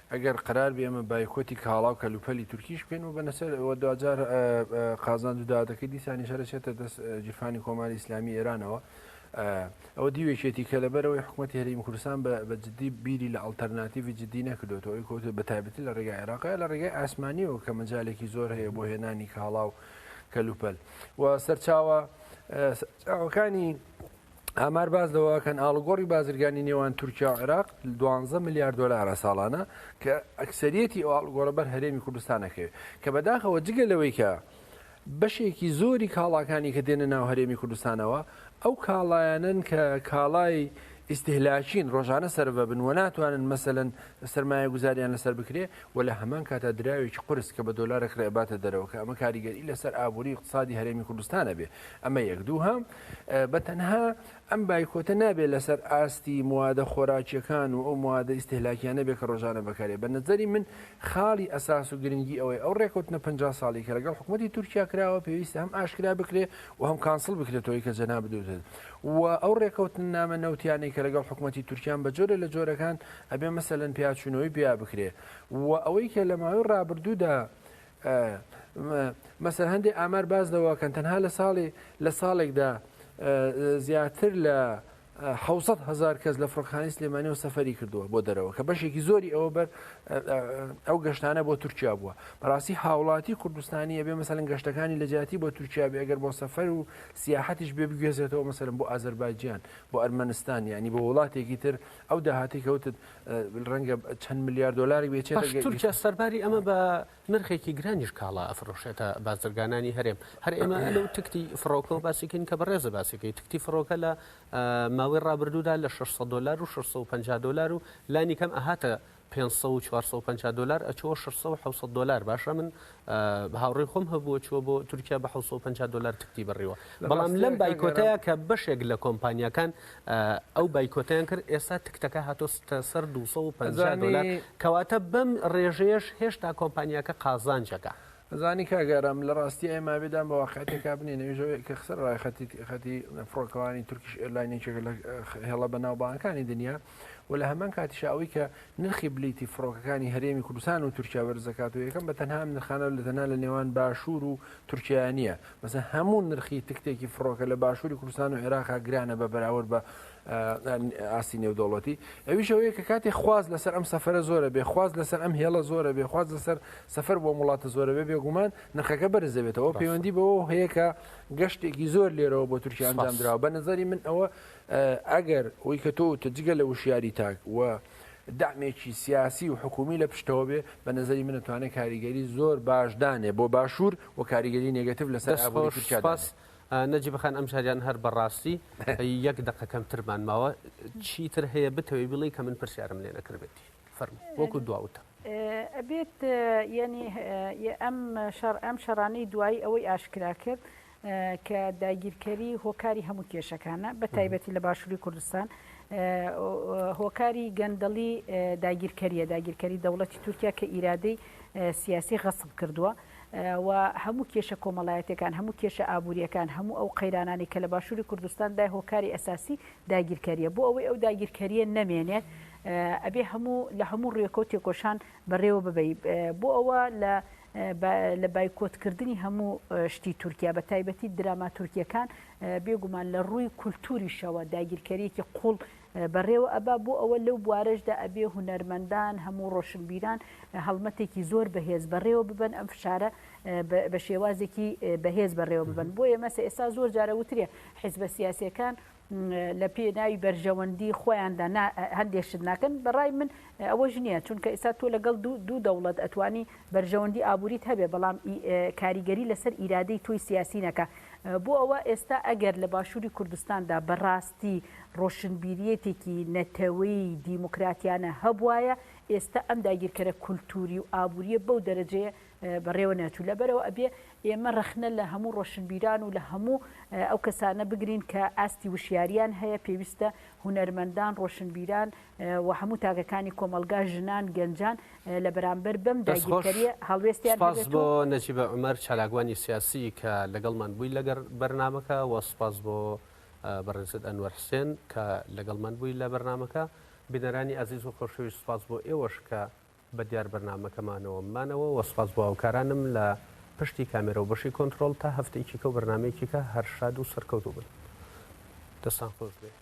ئەگەر قەرار بێ ئێمە بایکۆتی کاڵا و کەلوپەلی تورکیش بکەین و بەنەسەر ئەوە دواجار قازانج و دادەکەی دیسانیش هەر ئەچێتە دەست جیرفانی کۆماری ئیسلامی ئێرانەوە ئەوە دیوێکێتی کە لەبەرەوەی حکوومەتی هەریم کوردستان بە جددی بیری لە ئەلتەرناتیڤی جددی نەکردوێتەوە ئەوی کۆتێ بە تایبەتی لە ڕێگای عێراقی لە ڕێگای ئاسمانیەوە کە مەجالێکی زۆر هەیە بۆ هێنانی کاڵا و کەلوپەل و سەرچاوە ئەوەکانی ئامار باس لەوەکەن ئاڵگۆڕی بازرگانی نێوان تورکیا و عێراق دوانزە ملیار دلارە ساڵانە کە ئەکسریەتی ئەو ئاڵگۆڕە بەر هەرێمی کوردستانەکەوێت کە بەداخەوە جگە لەوەی کە بەشێکی زۆری کاڵاکانی کە دێنە ناو هەرێمی کوردستانەوە ئەو کاڵایەنن کە کاڵای ئیسیهلاچین ڕۆژانە سەرە بن و ناتوانن مەسەن سرمایە گوزاریان لەسەر بکرێ و لە هەمان کاتا دراوێکی قرس کە بە دۆلارە کرێباتە دەرەوە کە ئەمە کاریگەری لەسەر ئابووری اقتصادی هەرێمی کوردستانە بێ ئەمە یەک دوو هەم بە تەنها ئەم بایکۆتە نابێت لەسەر ئاستی موادە خۆراکیەکان و ئەو موادە ئیستهلاکیانە بێت کە ڕۆژانە بەکارێ بە نەزەری من خاڵی ئەساس و گرنگی ئەوەی ئەو ڕێکوتنە پ ساڵی کە لەگەڵ حکوومەتتی تورکیا کراوە پێویستە هەم ئاشکرا بکرێ و هەم کانسڵ بکرێتەوەی کە جەنا بدوتن و ئەو ڕێکوتن نامە نەوتیانەی کە لەگەڵ حکوومەتتی تورکیان بە جۆرە لە جۆرەکان ئەبێ مەسەلەن پیاچوونەوەی پیا بکرێ و ئەوەی کە لە ماوەی ڕابردوودا مەسەر هەندێک ئامار باس لەوەکەن تەنها لە ساڵی لە ساڵێکدا زیاتر لە حوسەت هزار کەس لە فڕۆکخانی سلێمانی و سەفری کردووە بۆ دەرەوە کە بەشێکی زۆری ئەوە بەر ئەو گەشتانە بۆ تورکیا بووە بەڕاستی هاوڵاتی کوردستانی ئەبێ مەسەلەن گەشتەکانی لە جیاتی بۆ تورکیا بێ ئەگەر بۆ سەفەر و سیاحەتیش بێ بگوێزێتەوە مەسەرم بۆ ئازربایجیان بۆ ئەرمەنستان ینی بۆ وڵاتێکی تر ئەو داهاتی کەوتت ڕەنگە چەند ملیار دۆلاری بێت، پاش تورکیا سەرباری ئەمە بە نرخێکی گرانیش کاڵا ئەفرۆشێتە بازرگانانی هەرێم، هەر ئێمە لەو تکتی فڕۆکەوە باسی کەین کە بەڕێزت باسی کردی، تکتی فڕۆکە لە ماوەی ڕابردوودا لە شەش سەد دۆلار و شەش سەد و پەنجا دۆلار و لانیکەم ئەهاتە پێنج سەد و چوار سەد و پەنجا دۆلار ئەچووە شەش سەد و حەوت سەد دۆلار، باشە من هاوڕێی خۆم هەبووە چووە بۆ تورکیا بە 750 دلار تکتی بڕیوە بەڵام لەم بایکۆتەیە کە بەشێک لە کۆمپانیەکان ئەو بایکۆتیان کرد ئێستا تکتەکە هاتۆستە سەر 250 دلار کەواتە بەم ڕێژەیەش هێشتا کۆمپانیەکە قازانجەکە. ئەزانی کاگارام لە ڕاستی ئای مابێدان بە واقعیتێکا بنێن ئەویش ئەوەیە کە خسەر ڕای خەتی خەتی فڕۆکەوانی تورکیش ئێرلاین یەکێکە لە هێڵە بەناوبانگەکانی دنیا، و لە هەمان کاتیشا ئەوەی کە نرخی بلیتی فڕۆکەکانی هەرێمی کوردستان و تورکیا بەرز دەکات و یەکەم بە تەنها ئەم نرخانە لە تەنها لە نێوان باشوور و تورکیایا نییە مەسەن هەموو نرخی تکتێکی فڕۆکە لە باشووری کوردستان و عێراقا گرانە بە بەراورد بە ئاستی نێودەوڵەتی ئەویش ئەوەیە کە کاتی خواز لەسەر ئەم سەفرە زۆرە بێ خواز لەسەر ئەم هێڵە زۆرە بێ خواز لەسەر سەفەر بۆ وڵاتە زۆرە بێ بێگومان نرخەکە بەرزەبێتەوە پەیوەندی بەوە هەیە کە گەشتێکی زۆر لێرەوە بۆ تورکیا ئەنجام درراوە بە نظری من ئەوە ئەگەر وەی کە تۆ وتت جگە لە وشیاری تاک و دەعمێکی سیاسی و حکوومی لە پشتەوە بێ، بە نەزەری من ئەتوانێ کاریگەری زۆر باش دانێ بۆ باشوور و کاریگەری نێگەتیڤ لە سەر ئابووری تورکیا دانێ. دەست خۆش نەجیب خان، ئەمجاریان هەر بە ڕاستی یەک دەقە کەمترمان ماوە، چی تر هەیە بتەوێ بیڵێی کە من پرسیارم لێ نەکردبێتی؟ فەرموو، وەکوو دوا وتە. ئەبێت یانی ئەم شەڕ ئەم شەڕانەی دوایی ئەوەی ئاشکرا کرد کە داگیرکەری هۆکاری هەموو کێشەکانە بە تایبەتی لە باشووری کوردستان هۆکاری گەندەڵی داگیرکەریە داگیرکەری دەوڵەتی تورکیا کە ئیرادەی سیاسی غەسب کردووە و هەموو کێشە کۆمەڵایەتەکان هەموو کێشە ئابوووریەکان هەموو ئەو قەیرانانی کە لە باشووری کوردستان دای هۆکاری ئەساسی داگیرکەریە بۆ ئەوەی ئەو داگیرکەریە نەمێنێت ئەبێ هەموو لە هەموو ڕێکۆ تێکۆشان بەڕێوە ببی بۆ ئەوە لە لە بایکۆت کردنی هەموو شتی تورکیا بە تایبەتی دراما تورکیەکان بێگومان لە ڕووی کولتوریشەوە داگیرکەریەکی قوڵ بەڕێوە ئەبا بۆ ئەوە لەو بوارەشدا ئەبێ هونەرمەندان هەموو ڕۆشنبیران هەڵمەتێکی زۆر بەهێز بەڕێوە ببن ئەم فشارە بە شێوازێکی بەهێز بەڕێوە ببن بۆ ئێمەسە ئێستا زۆر جارە وترێ حیزبە سیاسەکان لە پێناوی بەرژەوەندی خۆیاندا نا هەندێ شت ناکەن بە ڕای من ئەوەش نییە چونکە ئێستا تۆ لەگەڵ دوو دوو دەوڵەت ئەتوانی بەرژەوەندی ئابووریت هەبێ بەڵام ئی کاریگەری لەسەر ئیرادەی تۆی سیاسی نەکا بۆ ئەوە ئێستا ئەگەر لە باشووری کوردستاندا بە ڕاستی ڕۆشنبیریەتێکی نەتەوەی دیموکراتیانە هەبوایە ئێستا ئەم داگیرکەرە کولتووری و ئابووریە بەو دەرەجەیە بەڕێوە نەچوو لەبەرەوە ئەبێ ئێمە ڕەخنە لە هەموو ڕۆشنبیران و لە هەموو ئەو کەسانە بگرین کە ئاستی وشیاریان هەیە پێویستە هونەرمەندان ڕۆشنبیران و هەموو تاگەکانی کۆمەلگا ژنان گەنجان لە بەرامبەر بەم داگیرکەریە هەڵوێستیان بۆ نەجیبە عمەر چالاکوانی سیاسی کە لەگەڵمان بووی لەگەر بەرنمەکە و سپاس بۆ بەڕێزت ئەنوەر حسێن کە لەگەڵ من بووی لە بەرنمەکە بینەرانی ئازیز و خۆشەویست سپاس بۆ ئێوەش کە بە دیار بەرنامەکەمانەوە مانەوە وە سوپاس بۆ هاوکارانم لە پشتی کامێرەو بەشی کۆنترۆڵ تا هەفتەیەکی کەو بەرنامەیەکیکە هەر شاد و سەرکەوتو بن دەستان خۆش بێت